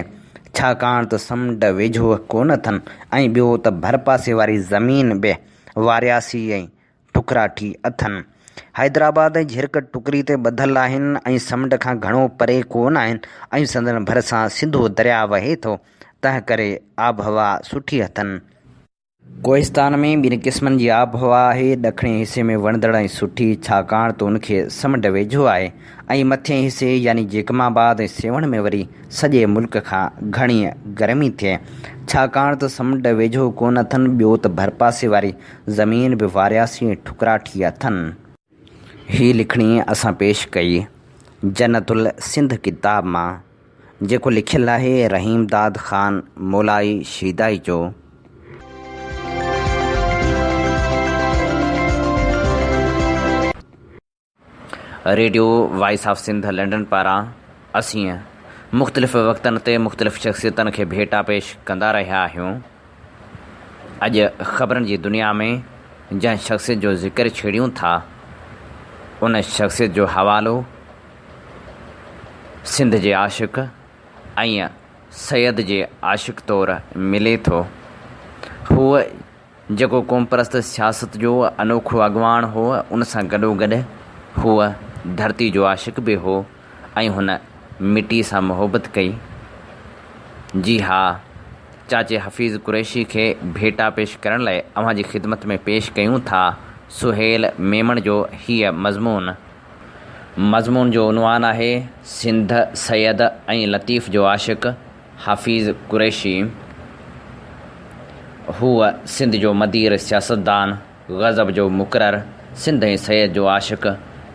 ڇاڪاڻ ته سمنڊ ويجهو ڪونه اٿن ۽ ٻيو ته ڀرپاسي واري زمين به وارياسي ۽ ٺڪراٺي اٿن. حيدرآباد ۽ جهرڪ ٽڪري تي ٻڌل آهن ۽ سمنڊ کان گهڻو پري ڪو نه آهن ۽ سندن ڀرسان سنڌو درياء وهي ٿو، تنهن ڪري آبهوا سٺي اٿن. ڪوهستان ۾ ٻن قسمن جي آبهوا آهي، ڏکڻئين حصي ۾ وڻندڙ ۽ سٺي، ڇاڪاڻ ته ان کي سمنڊ ويجهو آهي ۽ مٿئين حصي يعني جيڪب آباد ۽ سيوهڻ ۾ وري سڄي ملڪ کان گهڻيء گرمي ٿئي، ڇاڪاڻ ته سمنڊ ويجهو ڪو نه اٿن، ٻيو ته ڀرپاسي واري زمين به وارياسي ٺڪرا ٺھي اٿن. ھي لکڻي اسان پيش ڪئي جنت السنڌ ڪتاب مان جيڪو لکيل آھي رحيم داد خان مولائي شيدائي جو. Radio voice of Sindh London پاران اسين مختلف وقتن تي مختلف شخصيتن کي ڀيٽا پيش ڪندا رهيا آهيون. اڄ خبرن جي دنيا ۾ جنهن شخصيت جو ذڪر ڇيڙيون ٿا ان شخصيت جو حوالو سنڌ جي عاشق ۽ سيد جي عاشق طور ملي ٿو. هو جيڪو قومپرست سياست جو انوکو اڳواڻ هو، ان سان گڏوگڏ هو ڌرتي جو عاشق به هو ۽ هن مٽي سان محبت ڪئي. جي ها، چاچي حفيظ قريشي کي ڀيٽا پيش ڪرڻ لاء اوهان جي خدمت ۾ پيش ڪيون ٿا سهيل ميمڻ جو هيء مضمون. مضمون جو عنوان آهي، سنڌ، سيد ۽ لطيف جو عاشق. حفيظ قريشي، هو سنڌ جو مدير سياستدان، غضب جو مقرر، سنڌ ۽ سيد جو عاشق،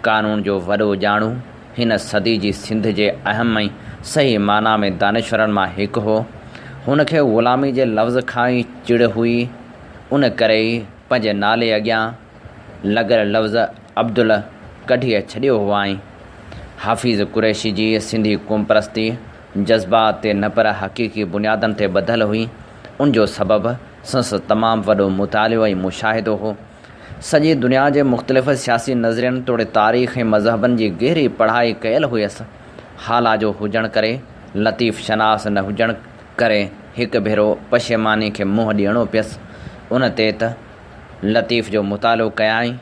قانون جو وڏو ڄاڻو، هن صدي جي سنڌ جي اهم ۽ صحيح معنيٰ ۾ دانشورن مان هڪ هو. هن کي غلامي جي لفظ کان ئي چڙ هئي، ان ڪري ئي پنهنجي نالي اڳيان لڳل لفظ عبدل ڪڍي ڇڏيو هئائين. حفيظ قريشي جي سنڌي قومپرستي جذبات تي نه پر حقيقي بنيادن تي ٻڌل هئي، ان جو سبب سنس تمام وڏو مطالعو ۽ مشاهدو هو. سڄي دنيا جي مختلف سياسي نظرين توڙي تاريخ ۽ مذهبن جي گهري پڙهائي ڪيل هئيس. هالاجو هجڻ ڪري، لطيف شناس نه هجڻ ڪري هڪ ڀيرو پشيماني کي منهن ڏيڻو پيس. ان تي ته لطيف جو مطالعو ڪيائين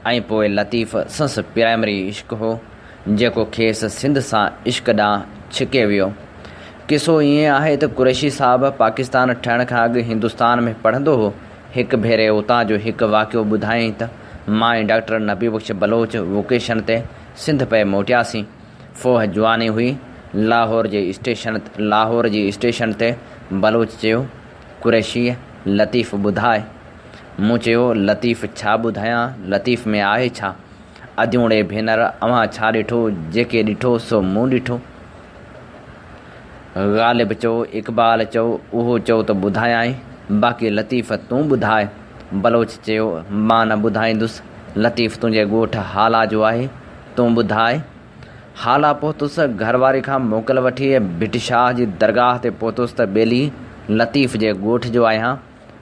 ۽ پوء لطيف سنس پرائمري عشق هو جيڪو کيس سنڌ سان عشق ڏانهن ڇڪي ويو. قصو ائين آهي ته قريشي صاحب پاڪستان ٺهڻ کان اڳ هندستان ۾ پڙهندو هو، هڪ ڀيري اتان جو هڪ واقعو ٻڌايائين ته مان ۽ ڊاڪٽر نبي بخش بلوچ ووڪيشن تي سنڌ پئي موٽياسين. فوهه جواني هئي. لاهور جي اسٽيشن لاهور جي اسٽيشن تي بلوچ چيو قريشيء لطيف ٻڌاء. مون چيو، لطيف ڇا ٻڌايان، لطيف ۾ آهي ڇا؟ اديوڻي ڀينر اوهان ڇا ڏٺو، جيڪي ڏٺو سو مون ڏٺو. غالب چئو، اقبال چئو، اهو چئو ته ٻڌايانء، باقي لطيف تون ٻڌاء. بلوچ چيو، مان نه ٻڌائيندس، لطيف تنهنجي ڳوٺ هالا جو آهي، تون ٻڌاء، هالا پهتس، گهر واري کان موڪل وٺي ڀٽ شاهه جي درگاهه تي پهتس ته ٻيلي لطيف جي ڳوٺ جو آهيان،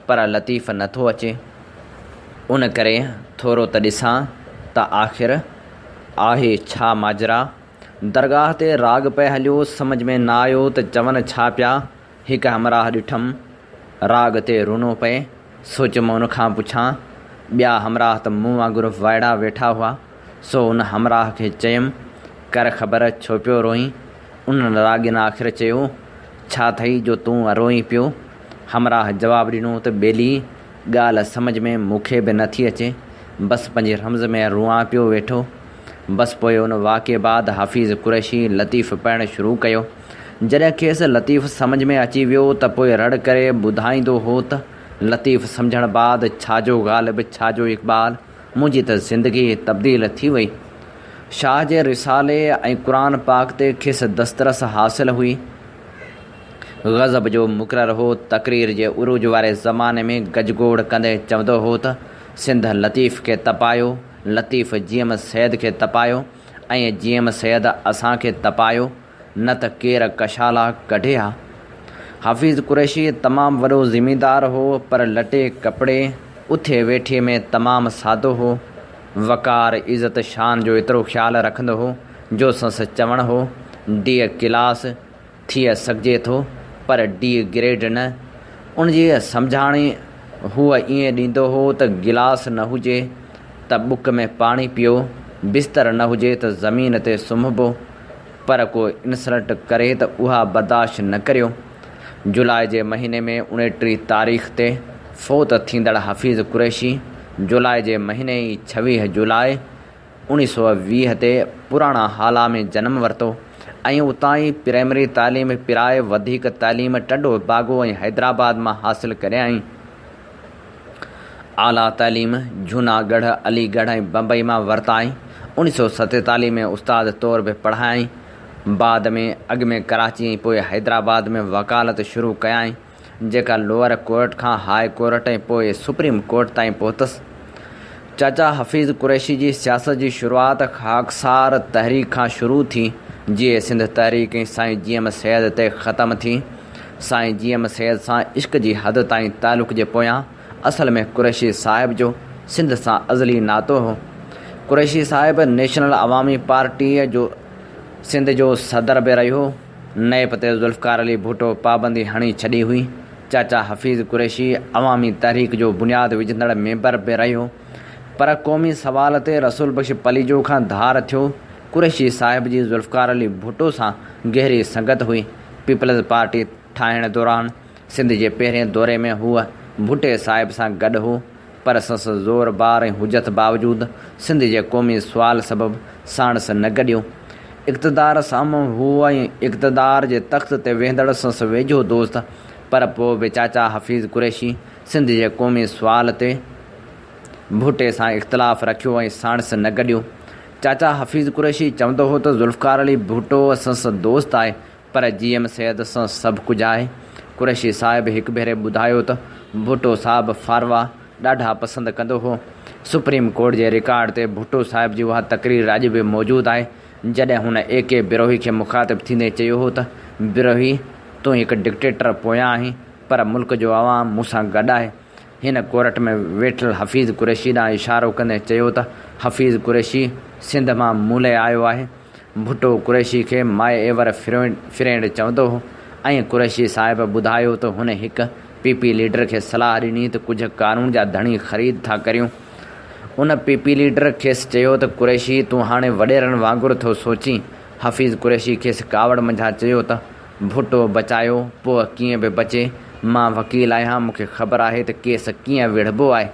پر لطيف نه ٿو اچي، ان ڪري ٿورو ته ڏسان ته آخر آهي ڇا ماجرا؟ درگاهه تي راڳ پئي هليو، سمجهه ۾ نه آيو ته چون ڇا پيا؟ هڪ همراهه ڏٺم، راڳ تي رونو پئي، سو چيم ان کان پڇان، ٻيا همراهه ته مون وانگر وائڙا ويٺا هئا، سو ان همراهه کي چيم، ڪر خبر ڇو پيو روئين؟ ان راڳين آخر چيو، ڇا ٿئي جو تون روئين پيو؟ همراهه جواب ڏنو ته ٻيلي، ڳالهه سمجهه ۾ مون کي به نٿي اچي، بس پنهنجي رمز ۾ روئان پيو ويٺو. بس پوء ان واقعي بعد حفيظ قريشي لطيف پڙهڻ شروع ڪيو. جڏهن کيس لطيف سمجهه ۾ اچي ويو ته پوء رڙ ڪري ٻڌائيندو هو ته، لطيف سمجهڻ بعد ڇا جو غالب ڇا جو اقبال، منهنجي ته زندگي تبديل ٿي وئي. شاهه جي رسالي ۽ قرآن پاڪ تي کيس دسترس حاصل هئي. غضب جو مقرر هو. تقرير جي عروج واري زماني ۾ گجگوڙ ڪندي چوندو هو ته، سنڌ لطيف کي تپايو، لطيف جي ايم سيد کي تپايو ۽ جي ايم سيد اسان کي تپايو. نه ته ڪير ڪشالا ڪڍي ها. حفيظ قريشي تمام وڏو زميندار هو پر لٽي ڪپڙي، اٿي ويٺي ۾ تمام سادو هو. وقار، عزت، شان جو ايترو خيال رکندو هو جو سنس چوڻ هو، ڊي ڪلاس ٿئي سگهجي ٿو پر ڊي گريڊ نه. ان جي سمجهاڻي هو ائين ڏيندو هو ته گلاس نه هجي ته بڪ ۾ پاڻي پيئو، بستر نه هجي ته زمين تي سمهبو. پر ڪو انسلٽ ڪري ته اها برداشت نه ڪريو. جولاء جي مهيني ۾ اڻٽيهه تاريخ تي فوت ٿيندڙ حفيظ قريشي جولاء جي مهيني ئي ڇويهه جولاء اوڻيهه سؤ ويهه تي پراڻا هالا ۾ جنم ورتو ۽ اتان ئي پرائمري تعليم پرائي وڌيڪ تعليم ٽنڊو باگو ۽ حيدرآباد مان حاصل ڪريائين. اعليٰ تعليم جهوناڳڙهه، علي ڳڙهه ۽ بمبئي مان ورتائين. اوڻيهه سؤ ستيتاليهه ۾ استاد طور به پڙهايائين. بعد ۾ اڳ ۾ ڪراچي ۽ پوء حيدرآباد ۾ وڪالت شروع ڪيائين، جيڪا لوئر ڪورٽ کان هاء ڪورٽ ۽ پوء سپريم ڪورٽ تائين پهتس. چاچا حفيظ قريشي جي سياست جي شروعات خاڪسار تحريڪ کان شروع ٿي، جيئي سنڌ تحريڪ ۽ سائين جي ايم سيد تي ختم ٿي. سائين جي ايم سيد سان عشق جي حد تائين تعلق جي پويان اصل ۾ قريشي صاحب جو سنڌ سان ازلي ناتو هو. قريشي صاحب نيشنل عوامي پارٽيء جو سنڌ جو صدر به رهيو. نيب تي ذوالفقار علي ڀٽو پابندي هڻي ڇڏي هئي، چاچا حفيظ قريشي عوامي تحريڪ جو بنياد وجهندڙ ميمبر به رهيو پر قومي سوال تي رسول بخش پليجو کان ڌار ٿيو، قريشي صاحب جي ذوالفقار علي ڀٽو سان گهري سنگت هئي، پيپلز پارٽي ٺاهڻ دوران سنڌ جي پهرين دوري ۾ هو ڀٽي صاحب سان گڏ هو. پر سس زور بار ۽ حجت باوجود سنڌ جي قومي سوال سبب ساڻس نه گڏيو. اقتدار سامهون هو ۽ اقتدار جي تخت تي ويهندڙ سس ويجهو دوست پر پوء به چاچا حفيظ قريشي سنڌ جي قومي سوال تي ڀٽي سان اختلاف رکيو ۽ ساڻس نه گڏيو. چاچا حفيظ قريشي چوندو هو ته ذوالفقار علي ڀٽو سس دوست آهي، پر جي ايم سيد سان سڀ ڪجهه آهي. قريشي صاحب هڪ ڀيري ٻڌايو ته ڀٽو صاحب ڦاروا ڏاڍا پسند ڪندو هو. سپريم ڪورٽ جي رڪارڊ تي ڀٽو صاحب جي اها تقرير اڄ به موجود آهي جڏهن هن اي ڪي بروهي کي مخاطب ٿيندي چيو هو ته بروهي تون هڪ ڊڪٽيٽر پويان آهين پر ملڪ جو عوام مون سان گڏ آهي. هن ڪورٽ ۾ ويٺل حفيظ قريشي ڏانهن اشارو ڪندي چيو ته حفيظ قريشي سنڌ مان ملئي آيو آهي، ڀٽو قريشي کي مائي ايور فرينڊ چوندو هو ۽ قريشي صاحب ٻڌايو ته هن هڪ پي پي ليڊر کي صلاح ڏني ته ڪجهه قانون جا ڌڻي خريد ٿا ڪريون. ان پي پي ليڊر کيس چيو ته قريشي تون هاڻي وڏيرن وانگر ٿو سوچين، حفيظ قريشي کيس ڪاوڙ منجهان چيو ته ڀٽو بچايو پوء ڪيئن به بچي. مان وڪيل آهيان مون کي خبر آهي ته ڪيس ڪيئن ويڙهبو آهي.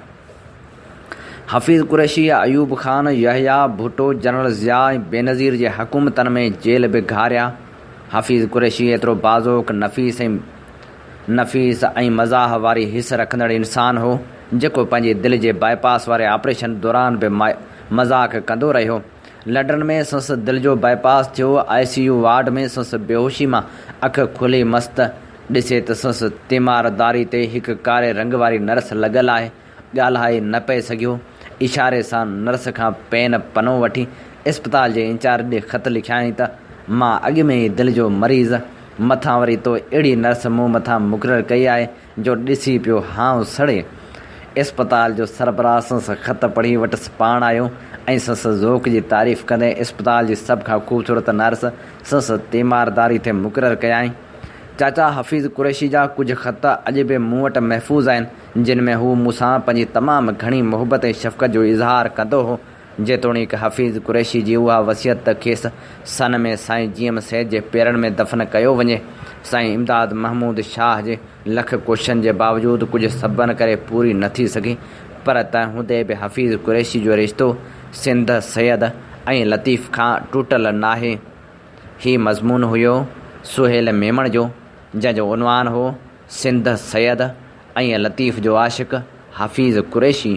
حفيظ قريشي، ايوب خان، يحيٰ ڀٽو، جنرل ضياء ۽ بينظير جي حڪومتن ۾ جيل به گهاريا. حفيظ قريشي ايترو بازوڪ، نفيس ۽ نفيس ۽ مزاح واري حس رکندڙ انسان هو، جيڪو پنهنجي دل جي باء پاس واري آپريشن دوران به مذاق ڪندو رهيو. لڏڻ ۾ سندس دل جو بائي پاس ٿيو، آء سي يو وارڊ ۾ سندس بيهوشي مان اک کلي مست ڏسي ته سندس تيمار داري تي هڪ ڪاري رنگ واري نرس لڳل آهي، ڳالهائي نه پئي سگهيو، اشاري سان نرس کان پين پنو وٺي اسپتال جي انچارج ڏي خط لکيائين ته مان اڳ ۾ ئي دل جو مريض، مٿان وري تو اهڙي نرس مون مٿان مقرر ڪئي آهي، جو ڏسي پيو هانء سڙي. اسپتال جو سربراهه سنس خط پڙهي وٽس پاڻ آيو ۽ سنس ذوق جي تعريف ڪندي اسپتال جي سڀ کان خوبصورت نرس سنس تيمارداري تي مقرر ڪيائين. چاچا حفيظ قريشي جا ڪجهه خط اڄ به مون وٽ محفوظ آهن، جن ۾ هو مون سان پنهنجي تمام گهڻي محبت ۽ شفقت جو اظهار ڪندو هو. جيتوڻيڪ حفيظ قريشي جي اها وصيت ته کيس سن ۾ سائين جي ايم سيد جي پيرن ۾ دفن ڪيو وڃي، سائين امداد محمود شاهه جي لک ڪوششن جي باوجود ڪجهه سببن ڪري پوري نه ٿي سگهي، پر تنهن هوندي به حفيظ قريشي جو رشتو سنڌ سيد ۽ لطيف کان ٽٽل ناهي. هي مضمون هيو سهيل ميمڻ جو، جنهن جو عنوان هو. سنڌ سيد ۽ لطيف جو Ashiq Hafeez Qureshi.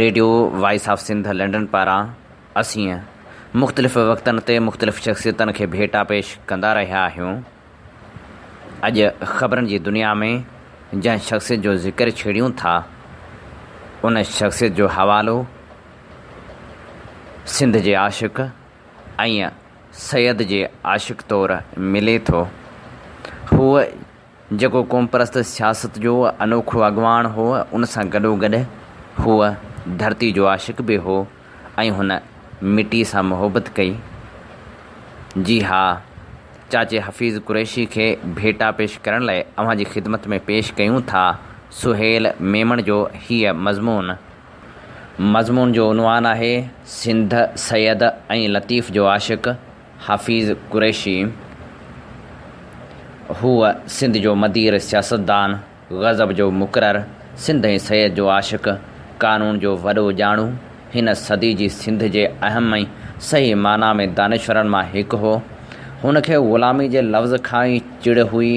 Radio voice of Sindh London پاران اسين مختلف وقتن تي مختلف شخصيتن کي ڀيٽا پيش ڪندا رهيا آهيون. اڄ خبرن جي دنيا ۾ جنهن شخصيت جو ذڪر ڇيڙيون ٿا ان شخصيت جو حوالو سنڌ جي عاشق ۽ سيد جي عاشق طور ملي ٿو. هو جيڪو قومپرست سياست جو انوکو اڳواڻ هو، ان سان گڏوگڏ هو ڌرتي جو عاشق به هو ۽ هن مٽي سان محبت ڪئي. جي ها، چاچي حفيظ قريشي کي ڀيٽا پيش ڪرڻ لاء اوهان جي خدمت ۾ پيش ڪيون ٿا سهيل ميمڻ جو هيء مضمون. مضمون جو عنوان آهي سنڌ سيد ۽ لطيف جو عاشق حفيظ قريشي هو سنڌ جو مدير سياستدان غضب جو مقرر سنڌ ۽ سيد جو عاشق قانون جو وڏو ڄاڻو هن صدي جي سنڌ جي اهم ۽ صحيح معنيٰ ۾ دانشورن مان هڪ هو هن کي غلامي جي لفظ کان ئي چڙ هئي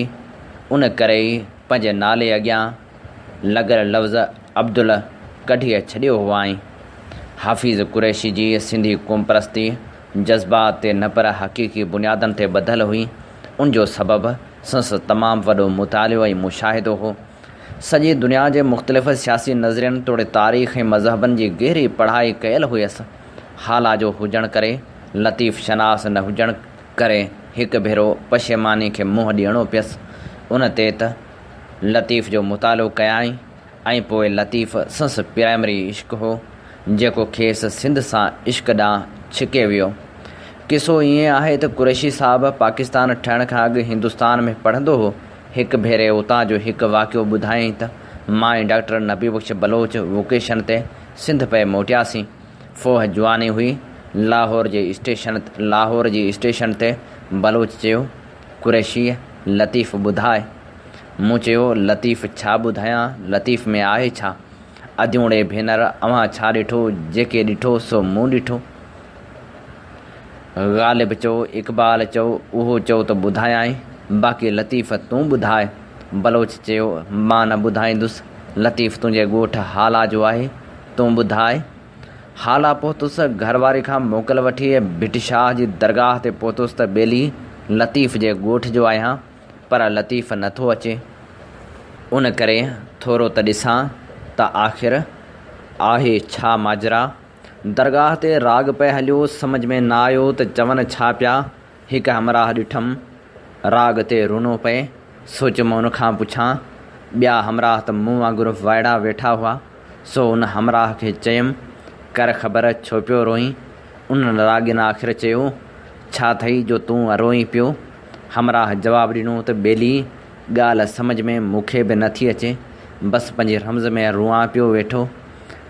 ان ڪري ئي پنهنجي نالي اڳيان لڳل لفظ عبدل ڪڍي ڇڏيو هئائين. حفيظ قريشي جي سنڌي قومپرستي جذبات تي نه پر حقيقي بنيادن تي ٻڌل هئي. ان جو سبب سنس تمام وڏو مطالعو ۽ مشاهدو هو. سڄي دنيا جي مختلف سياسي نظرين توڙي تاريخ ۽ مذهبن جي گهري پڙهائي ڪيل هئيس. هالا جو هجڻ ڪري لطيف شناس نه هجڻ ڪري هڪ ڀيرو پشيماني کي منهن ڏيڻو پيس. ان تي ته لطيف جو مطالعو ڪيائين ۽ پوء لطيف سنس پرائمري عشق هو، جيڪو کيس سنڌ سان عشق ڏانهن ڇڪي ويو. قصو ائين آهي ته قريشي صاحب پاڪستان ٺهڻ کان اڳ هندستان ۾ پڙهندو هو. هڪ ڀيري اتان جو هڪ واقعو ٻڌايائين ته مان ۽ ڊاڪٽر نبي بخش بلوچ وڪيشن تي سنڌ پئي موٽياسين. فوهه جواني هئي، لاهور جي اسٽيشن لاهور جي اسٽيشن تي بلوچ چيو، قريشيء، لطيف ٻڌاء. مون چيو، لطيف ڇا ٻڌايان، لطيف ۾ آهي ڇا؟ اديوڻي ڀينر، اوهان ڇا ڏٺو، جيڪي ڏٺو سو مون ڏٺو. غالب چئو، اقبال چئو، اهو چئو ته ٻڌايانء، باقي لطيف تون ٻڌاء. بلوچ چيو، مان نه ٻڌائيندس، لطيف تنهنجي ڳوٺ هالا جو آهي، تون ٻڌاء. هالا پهتس، گهر واري کان موڪل وٺي ڀٽ شاهه جي درگاهه تي پهتس ته ٻيلي لطيف جي ڳوٺ جو آهيان، پر لطيف نه ٿو اچي. ان ڪري ٿورو ته ڏسان ته آخر آهي ڇا ماجرا. درگاهه تي راڳ پئي هليو، سمجهه ۾ نه آيو ته چون ڇا پيا. هڪ همراهه ڏٺم، راڳ تي رونو پئي، سو چيم ان کان پڇان، ٻيا همراهه ته مون وانگر وائڙا ويٺا هئا، سو ان همراهه کي چيم، ڪر خبر ڇو پيو روئين؟ ان راڳين آخر چيو، ڇا ٿئي جو تون روئين پيو؟ همراهه جواب ڏنو ته ٻيلي، ڳالهه سمجهه ۾ مون کي به نه ٿي اچي، بس پنهنجي رمز ۾ روئان پيو ويٺو.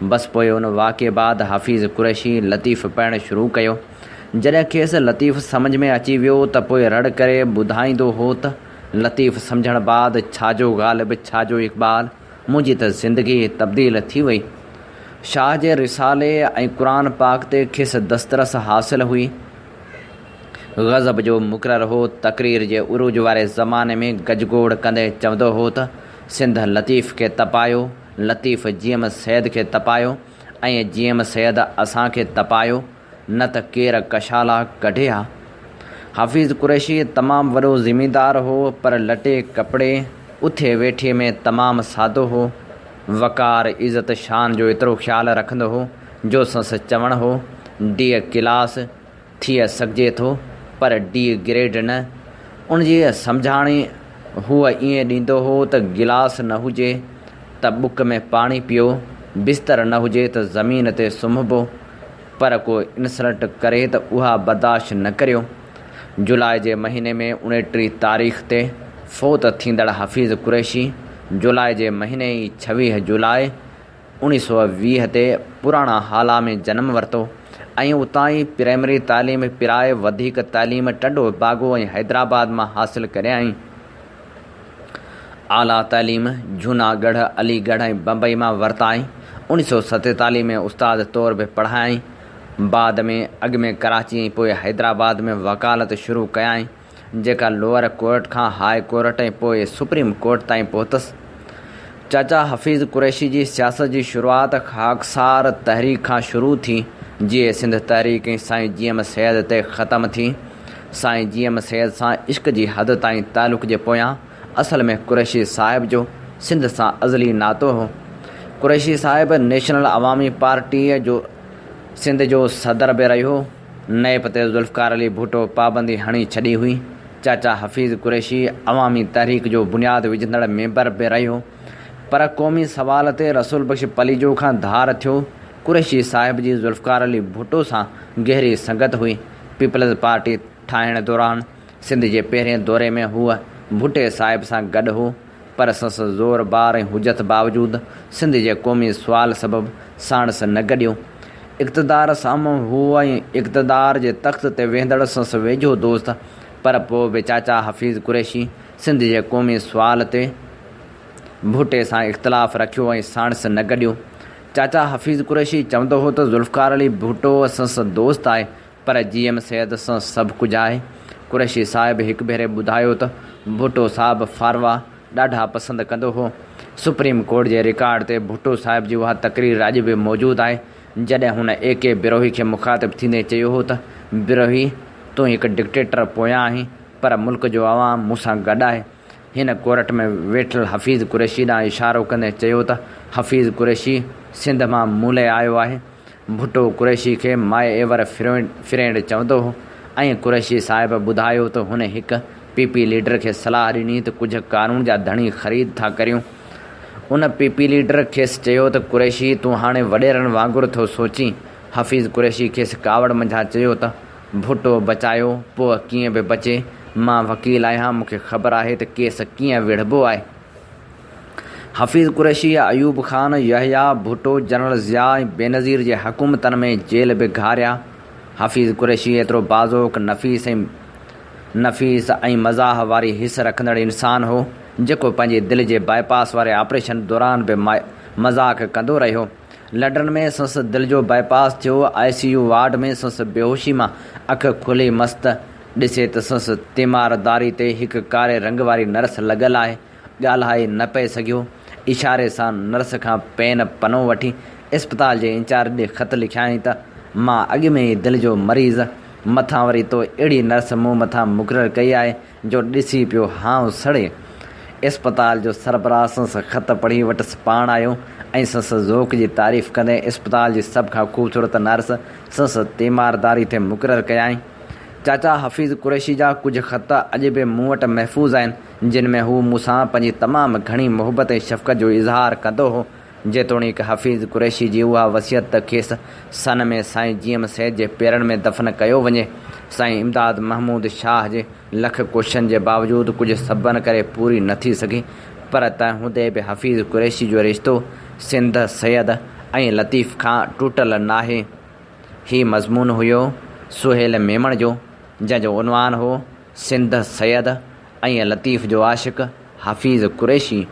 بس پوء ان واقعي بعد حفيظ قريشي لطيف پڙهڻ شروع ڪيو. جڏهن کيس لطيف سمجهه ۾ اچي ويو ته پوء رڙ ڪري ٻڌائيندو هو ته، لطيف سمجهڻ بعد ڇا جو غالب ڇا جو اقبال، منهنجي ته زندگي تبديل ٿي وئي. شاهه جي رسالي ۽ قرآن پاڪ تي کيس دسترس حاصل هئي. غضب جو مقرر هو، تقرير جي عروج واري زماني ۾ گجگوڙ ڪندي چوندو هو ته، سنڌ لطيف کي تپايو، لطيف جي ايم سيد کي تپايو ۽ جي ايم سيد اسان کي تپايو. نه ته ڪير ڪشالا ڪڍي ها. حفيظ قريشي تمام وڏو زميندار هو پر لٽي ڪپڙي، اٿي ويٺي ۾ تمام سادو هو. وقار، عزت، شان جو ايترو خيال رکندو هو جو سنس چوڻ هو، ڊي ڪلاس ٿئي سگهجي ٿو پر ڊي گريڊ نه. ان جي سمجهاڻي هو ائين ڏيندو هو ته گلاس نه هجي ته بڪ ۾ پاڻي پيو، بستر نه هجي ته زمين تي سمهبو، پر ڪو انسلٽ ڪري ته اها برداشت نه ڪريو. جولاء جي مهيني ۾ اڻٽيهه تاريخ تي فوت ٿيندڙ حفيظ قريشي جولاء جي مهيني ئي ڇويهه جولاء اوڻيهه سؤ ويهه تي پراڻا هالا ۾ جنم ورتو ۽ اتان ئي پرائمري تعليم پرائي وڌيڪ تعليم ٽنڊو باگو ۽ حيدرآباد مان حاصل ڪريائين. اعليٰ تعليم جهوناڳڙهه، علي ڳڙهه ۽ بمبئي مان ورتائين. اوڻيهه سؤ ستيتاليهه ۾ استاد طور به پڙهايائين. بعد ۾ اڳ ۾ ڪراچي ۽ پوء حيدرآباد ۾ وڪالت شروع ڪيائين، جيڪا لوئر ڪورٽ کان هاء ڪورٽ ۽ پوء سپريم ڪورٽ تائين پهتس. چاچا حفيظ قريشي جي سياست جي شروعات خاڪسار تحريڪ کان شروع ٿي، جيئي سنڌ تحريڪ ۽ سائين جي ايم سيد تي ختم ٿي. سائين جي ايم سيد سان عشق جي حد تائين تعلق جي پويان اصل ۾ قريشي صاحب جو سنڌ سان ازلي ناتو هو. قريشي صاحب نيشنل عوامي پارٽيء جو سنڌ جو صدر به رهيو. نيب تي ذوالفقار علي ڀٽو پابندي هڻي ڇڏي هئي. چاچا حفيظ قريشي عوامي تحريڪ جو بنياد وجهندڙ ميمبر به رهيو. پر قومي سوال تي رسول بخش پليجو کان ڌار ٿيو. قريشي صاحب جي ذوالفقار علي ڀٽو سان گهري سنگت هئي. پيپلز پارٽي ٺاهڻ دوران سنڌ جي پهرين دوري ۾ هو ڀٽي صاحب سان گڏ هو، پر سنس زور بار ۽ حجت باوجود سنڌ جي قومي سوال سبب ساڻس نه گڏيو. اقتدار سامهون هو ۽ اقتدار جي تخت تي ويهندڙ سنس ويجهو دوست، پر پوء به چاچا حفيظ قريشي سنڌ جي قومي سوال تي ڀٽي سان اختلاف رکيو ۽ ساڻس نه گڏيو. چاچا حفيظ قريشي چوندو هو ته ذوالفقار علي ڀٽو اسان سان دوست آهي پر جي ايم سيد سان سڀ ڪجهه آهي. قريشي صاحب هڪ ڀيري ٻڌايو ته ڀٽو صاحب ڦاروا ڏاڍا پسند ڪندو هو. سپريم ڪورٽ جي رڪارڊ تي ڀٽو صاحب جي اها تقرير اڄ به موجود آهي جڏهن هن اي ڪي بروهي کي مخاطب ٿيندي چيو هو ته بروهي تون هڪ ڊڪٽيٽر پويان آهين پر ملڪ جو عوام مون سان گڏ آهي. هن ڪورٽ ۾ ويٺل حفيظ قريشي ڏانهن اشارو ڪندي چيو ته حفيظ قريشي سنڌ مان ملئي آيو آهي. ڀٽو قريشي کي مائي ايور فرينڊ چوندو هو ۽ قريشي صاحب ٻڌايو ته هن هڪ پي پي ليڊر کي صلاح ڏني ته ڪجهه ڪارون جا ڌڻي خريد ٿا ڪريون. ان پي پي ليڊر کيس چيو ته قريشي تون هاڻي وڏيرن وانگر ٿو سوچين. حفيظ قريشي کيس ڪاوڙ منجهان چيو ته. ڀٽو بچايو پوء ڪيئن به بچي. مان وڪيل آهيان مون کي خبر آهي ته ڪيس ڪيئن وڙهبو آهي. حفيظ قريشي، ايوب خان، يحيٰ ڀٽو، جنرل ضياء ۽ بينظير جي حڪومتن ۾ جيل به گهاريا. حفيظ قريشي ايترو بازوڪ، نفيس ۽ نفيس ۽ مزاح واري حس رکندڙ انسان هو، جيڪو پنهنجي دل جي باء پاس واري آپريشن دوران به مذاق ڪندو رهيو. لڊن ۾ سنس دل جو بائي پاس ٿيو، آء سي يو وارڊ ۾ سنس بيهوشي مان اک کلي مست ڏسي ته سنس تيمارداري تي هڪ ڪاري رنگ واري نرس لڳل آهي، ڳالهائي نه پئي سگهيو، اشاري سان نرس کان پين پنو وٺي اسپتال جي انچارج ڏي خط لکيائين ته مان اڳ ۾ ئي دل جو مريض، مٿان وري تو اهڙي نرس مون مٿان مقرر ڪئي آهي جو ڏسي پيو هانء سڙي. اسپتال جو سربراهه سنس خط پڙهي وٽس پاڻ آيو ۽ سنس ذوق جي تعريف ڪندي اسپتال جي سڀ کان خوبصورت نرس سنس تيمارداري تي مقرر ڪيائين. چاچا حفيظ قريشي جا ڪجهه خط اڄ به مون وٽ محفوظ آهن، جن ۾ هو مون سان پنهنجي تمام گهڻي محبت ۽ شفقت جو اظهار ڪندو هو. جيتوڻيڪ حفيظ قريشي جي اها وصيت ته کيس سن ۾ سائين جي ايم سيد جي پيرن ۾ دفن ڪيو وڃي، سائين امداد محمود شاهه جي لک ڪوششن جي باوجود ڪجهه سببن ڪري پوري نه ٿي سگهي، پر تنهن هوندي به حفيظ قريشي جو رشتو سنڌ سيد ۽ لطيف کان ٽٽل ناهي. هي مضمون هيو سهيل ميمڻ جو، جنهن جو عنوان هو. سنڌ سيد ۽ لطيف جو عاشق حفيظ قريشي.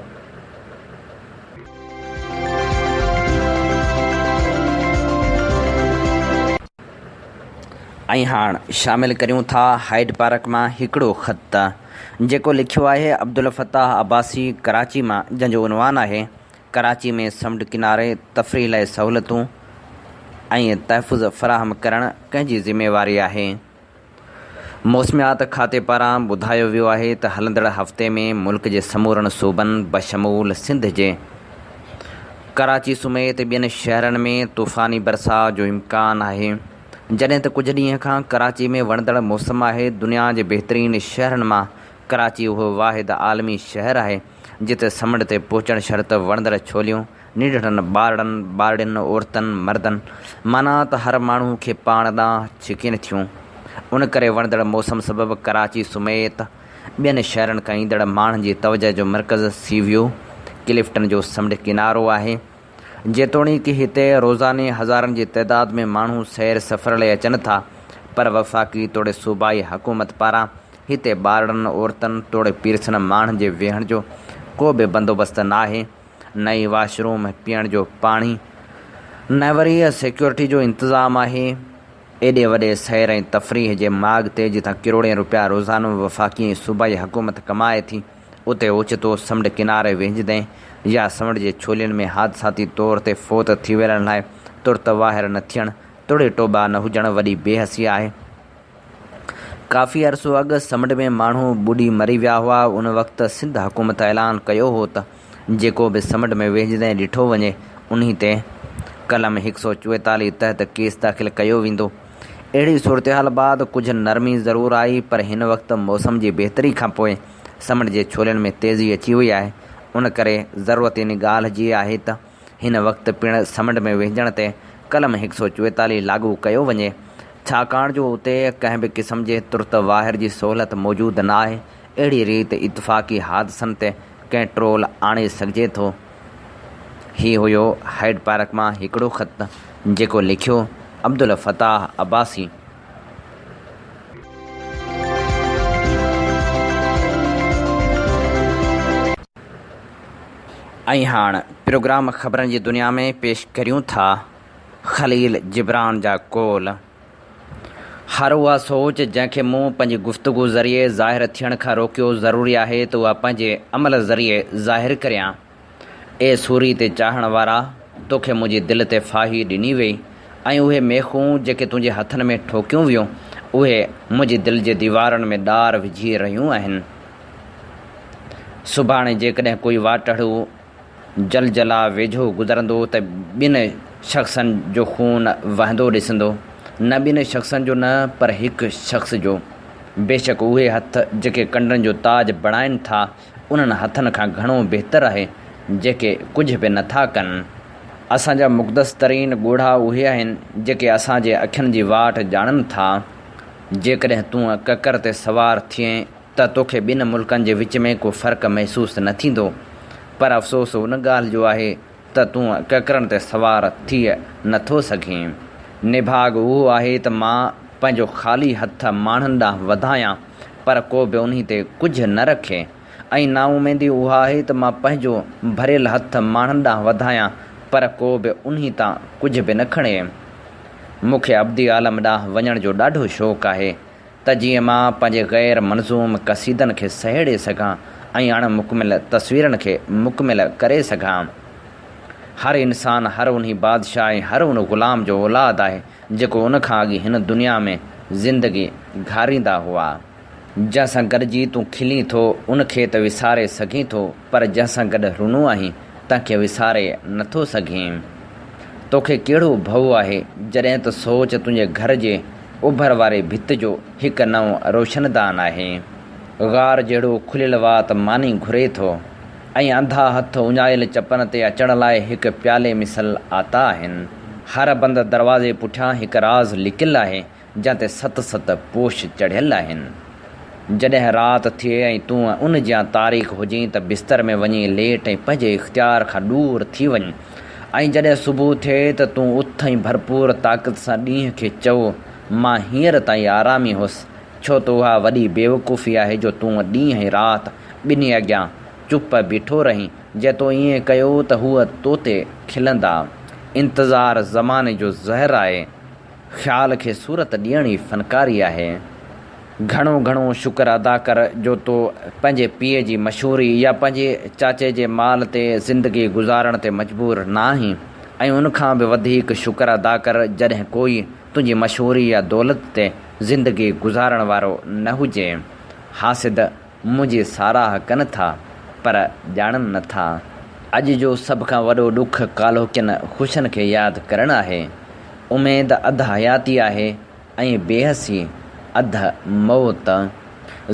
۽ هاڻ شامل ڪريون ٿا هائيڊ پارڪ مان هڪڙو خط جيڪو لکيو آهي عبدالفتاح عباسي ڪراچي مان جنهن جو عنوان آهي ڪراچي ۾ سمنڊ ڪناري تفريح لاء سهولتون ۽ تحفظ فراهم ڪرڻ ڪنهن جي ذميواري آهي؟ موسميات کاتي پاران ٻڌايو ويو آهي ته هلندڙ هفتي ۾ ملڪ جي سمورن صوبن بشمول سنڌ جي ڪراچي سميت ٻين شهرن ۾ طوفاني برساء جو امڪان آهي جڏهن ته ڪجهه ڏينهن کان ڪراچي ۾ وڻندڙ موسم آهي دنيا جي بهترين شهرن مان ڪراچي اهو واحد عالمي شهر آهي جتي سمنڊ تي پهچڻ شرط وڻندڙ ڇوليون نينڍڙن، ٻارڙن، ٻارڙين، عورتن، مردن، معنيٰ ته هر ماڻهو کي پاڻ ڏانهن ڇڪين ٿيون. ان ڪري وڻندڙ موسم سبب ڪراچي سميت ٻين شهرن کان ايندڙ ماڻهن جي توجهه جو مرڪز سي ويو ڪلفٽن جو سمنڊ ڪنارو آهي. جيتوڻيڪ هتي روزاني هزارن جي تعداد ۾ ماڻهو سير سفر لئي اچن ٿا پر وفاقي توڙي صوبائي حڪومت پاران هتي ٻارڙن، عورتن توڙي پيرسن ماڻهن جي ويهڻ جو ڪو به بندوبست ناهي. نه ئي واش روم ۽ پيئڻ جو پاڻي، نه وري سيڪيورٽي جو انتظام آهي. ايڏي وڏي سير ۽ تفريح جي ماڳ تي جتان ڪروڙين روپيا روزانو وفاقي ۽ صوبائي حڪومت ڪمائي ٿي، اتي اوچتو سمنڊ ڪناري ويهجندين يا سمنڊ جي ڇولين ۾ حادثاتي طور تي فوت ٿي ويلن لاء ترت واهر نه ٿيڻ توڙي ٽوٻا نه هجڻ وڏي بي حسي آهي. ڪافي عرصو اڳ سمنڊ ۾ ماڻهو ٻڏي مري ويا هئا، ان وقت سنڌ حڪومت اعلان ڪيو هو ته، جيڪو به سمٽ ۾ ويهجندي ڏٺو وڃي انهي تي قلم هڪ سؤ چويتاليهه تحت ڪيس داخل ڪيو ويندو. اهڙي صورتحال بعد ڪجهه نرمي ضرور آئي پر هن وقت موسم جي بهتري کانپوء سمٽ جي ڇولين ۾ تيزي اچي وئي آهي ان ڪري ضرورت ان ڳالهه جي آهي ته هن وقت پڻ سمٽ ۾ ويهجڻ تي قلم هڪ سؤ چويتاليهه لاڳو ڪيو وڃي ڇاڪاڻ جو اتي ڪنهن به قسم جي ترت واهر جي سهولت موجود ناهي. اهڙي ريت اتفاقي حادثن تي ڪنٽرول آڻي سگهجي ٿو. هي هيو هائيڊ پارڪ مان هڪڙو خط جيڪو لکيو عبدالفتاح عباسي. ۽ هاڻ پروگرام خبرن جي دنيا ۾ پيش ڪريون ٿا خليل جبران جا قول. هر اها سوچ جنهن کي مون پنهنجي گفتگو ذريعي ظاهر ٿيڻ کان روڪيو، ضروري آهي ته اها پنهنجي عمل ذريعي ظاهر ڪريان. اي سوري تي چاهڻ وارا! تو کي منهنجي دل تي ڦاهي ڏني ويئي ۽ اهي ميخون جيڪي تنهنجي هٿن ۾ ٺوڪيون ويون، اهي منهنجي دل جي ديوارن ۾ ڏار وجهي رهيون آهن. سڀاڻي جيڪڏهن ڪوئي واٽهڙو جلجلا ويجهو گذرندو ته ٻن شخصن جو خون وهندو ڏسندو، نه ٻن شخصن جو نه پر هڪ شخص جو. بيشڪ اهي هٿ جيڪي ڪنڊن جو تاج بڻائن ٿا انهن هٿن کان گهڻو بهتر آهي جيڪي ڪجهه به نه ٿا ڪن. اسان جا مقدس ترين ڳوڙها اهي آهن جيڪي اسان جي اکين جي واٽ ڄاڻن ٿا. جيڪڏهن تون ڪڪر تي سوار ٿئين. ته توکي ٻن ملڪن جي وچ ۾ ڪو فرق محسوس نه ٿيندو پر افسوس ان ڳالهه جو آهي ته تون ڪڪرن تي سوار ٿئي نه ٿو سگهين. نڀاڳ اهو آهي ته مان پنهنجو خالي هٿ ماڻهن ڏانهن وڌايان پر ڪو به انهي تي ڪجهه نه رکي ۽ نااميدي اها آهي ته مان پنهنجو ڀريل هٿ ماڻهن ڏانهن وڌايان پر ڪو به انهي تان ڪجهه به نه کڻي. مونکي ابدي عالم ڏانهن وڃڻ جو ڏاڍو شوق آهي. ته جيئن مان پنهنجي غير منظوم قصيدن کي سهيڙي سگهان ۽ اڻ مڪمل تصويرن کي مڪمل ڪري سگهان. هر انسان هر انهي بادشاهه ۽ هر ان غلام جو اولاد آهي جيڪو ان کان اڳي هن دنيا ۾ زندگي گهاريندا هئا. جنهن سان گڏجي تون کلين ٿو ان کي ته وساري سگهين ٿو. پر جنهن سان گڏ رھنو آھين، تنهن کي وساري نه ٿو سگهين. تو کي ڪهڙو ڀؤ آھي، جڏهن ته سوچ تنهنجي گهر جي اوڀر واري ڀت جو هڪ نئون روشندان آھي. غار جهڙو کليل وات ماني گهري ٿو ۽ انڌا هٿ اڃايل چپن تي اچڻ لاء هڪ پيالي مثل آتا آھن. هر بند دروازي پٺيان هڪ راز لڪيل آھي، جنهن تي ست ست پوش چڙهيل آهن. جڏهن رات ٿئي ۽ تون ان جيان تاريڪ هجين ته بستر ۾ وڃي ليٽ ۽ پنهنجي اختيار کان ڏور ٿي وڃ ۽ جڏهن صبح ٿئي ته تون اٿ ۽ ڀرپور طاقت سان ڏينهن کي چئو، مان هينئر تائين آرام ئي هوس، ڇو ته اها وڏي بيوقوفي آهي جو تون ڏينهن ۽ رات ٻنهي اڳيان چپ بيٺو رهين، جي تو ائين ڪيو ته هو تو تي کلندا. انتظار زماني جو زهر آهي. خيال کي صورت ڏيڻ ئي فنڪاري آهي. گهڻو گهڻو شڪر ادا ڪر جو تو پنهنجي پيء جي مشهوري يا پنهنجي چاچي جي مال تي زندگي گذارڻ تي مجبور نه آهين ۽ ان کان به وڌيڪ شڪر ادا ڪر جڏهن ڪوئي تنهنجي مشهوري يا دولت تي زندگي گذارڻ وارو نه هجي. حاسد. منهنجي ساراهه ڪن ٿا پر ڄاڻن نه ٿا. اڄ جو سڀ کان وڏو ڏک ڪالهوڪين خوشين کي ياد ڪرڻ آهي. اميد اڌ حياتي آهي ۽ بيحسي اڌ موت.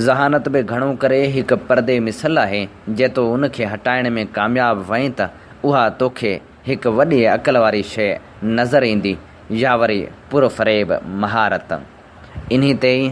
ذهانت به گهڻو ڪري هڪ پردي مثل آهي، جي تو ان کي هٽائڻ ۾ ڪامياب وئين ته اها توکي هڪ وڏي عقل واري شيء نظر ايندي يا وري پرفريب مهارت. انهي تي ئي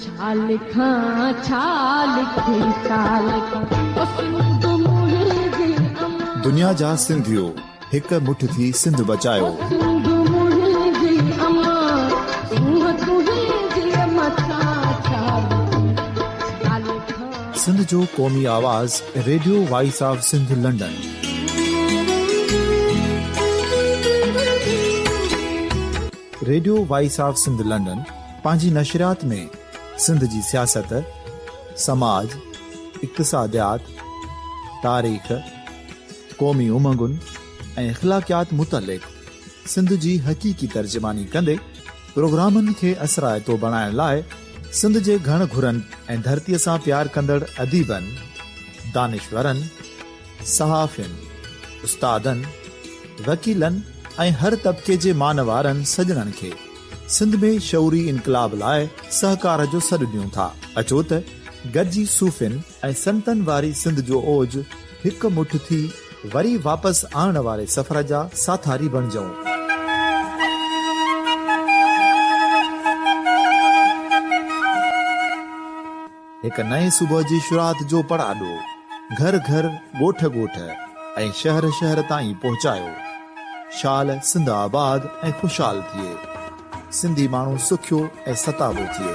ڇا لکان ڇا لکي ڇا لکان او سنڌ منهنجي امان. دنيا جا سنڌيو هڪ مٺ ٿي سنڌ بچايو. او سنڌ منهنجي امان سونهن تنهنجي مٿان ڇا لکان ڇا لکان. سنڌ جو قومي آواز radio voice of Sindh London. Radio voice of Sindh London. پنهنجي نشريات ۾ سنڌ جي سياست، سماج، اقتصاديات، تاريخ، قومي امنگن ۽ اخلاقيات متعلق سنڌ جي حقيقي ترجماني ڪندي پروگرامن کي اثرائتو بڻائڻ لاء سنڌ جي گهڻ گهرن ۽ ڌرتيء سان پيار ڪندڙ اديبن، دانشورن، صحافين، استادن، وڪيلن ۽ هر طبقي جي مانوارن سڄڻن کي سنڌ ۾ شعوري انقلاب لاء سهڪار جو سڏ ڏيون ٿا، اچو ته گڏجي صوفين ۽ سنتن واري سنڌ جو اوج هڪ مٺ ٿي وري واپس آڻڻ واري سفر جا ساٿاري بڻجئون. هڪ نئين صبح جي شروعات جو پڙاڏو گهر گهر، ڳوٺ ڳوٺ ۽ شهر شهر تائين پهچايو. شال سنڌ آباد ۽ خوشحال ٿئي. سنڌي ماڻهو سکيو ۽ ستابو ٿئي.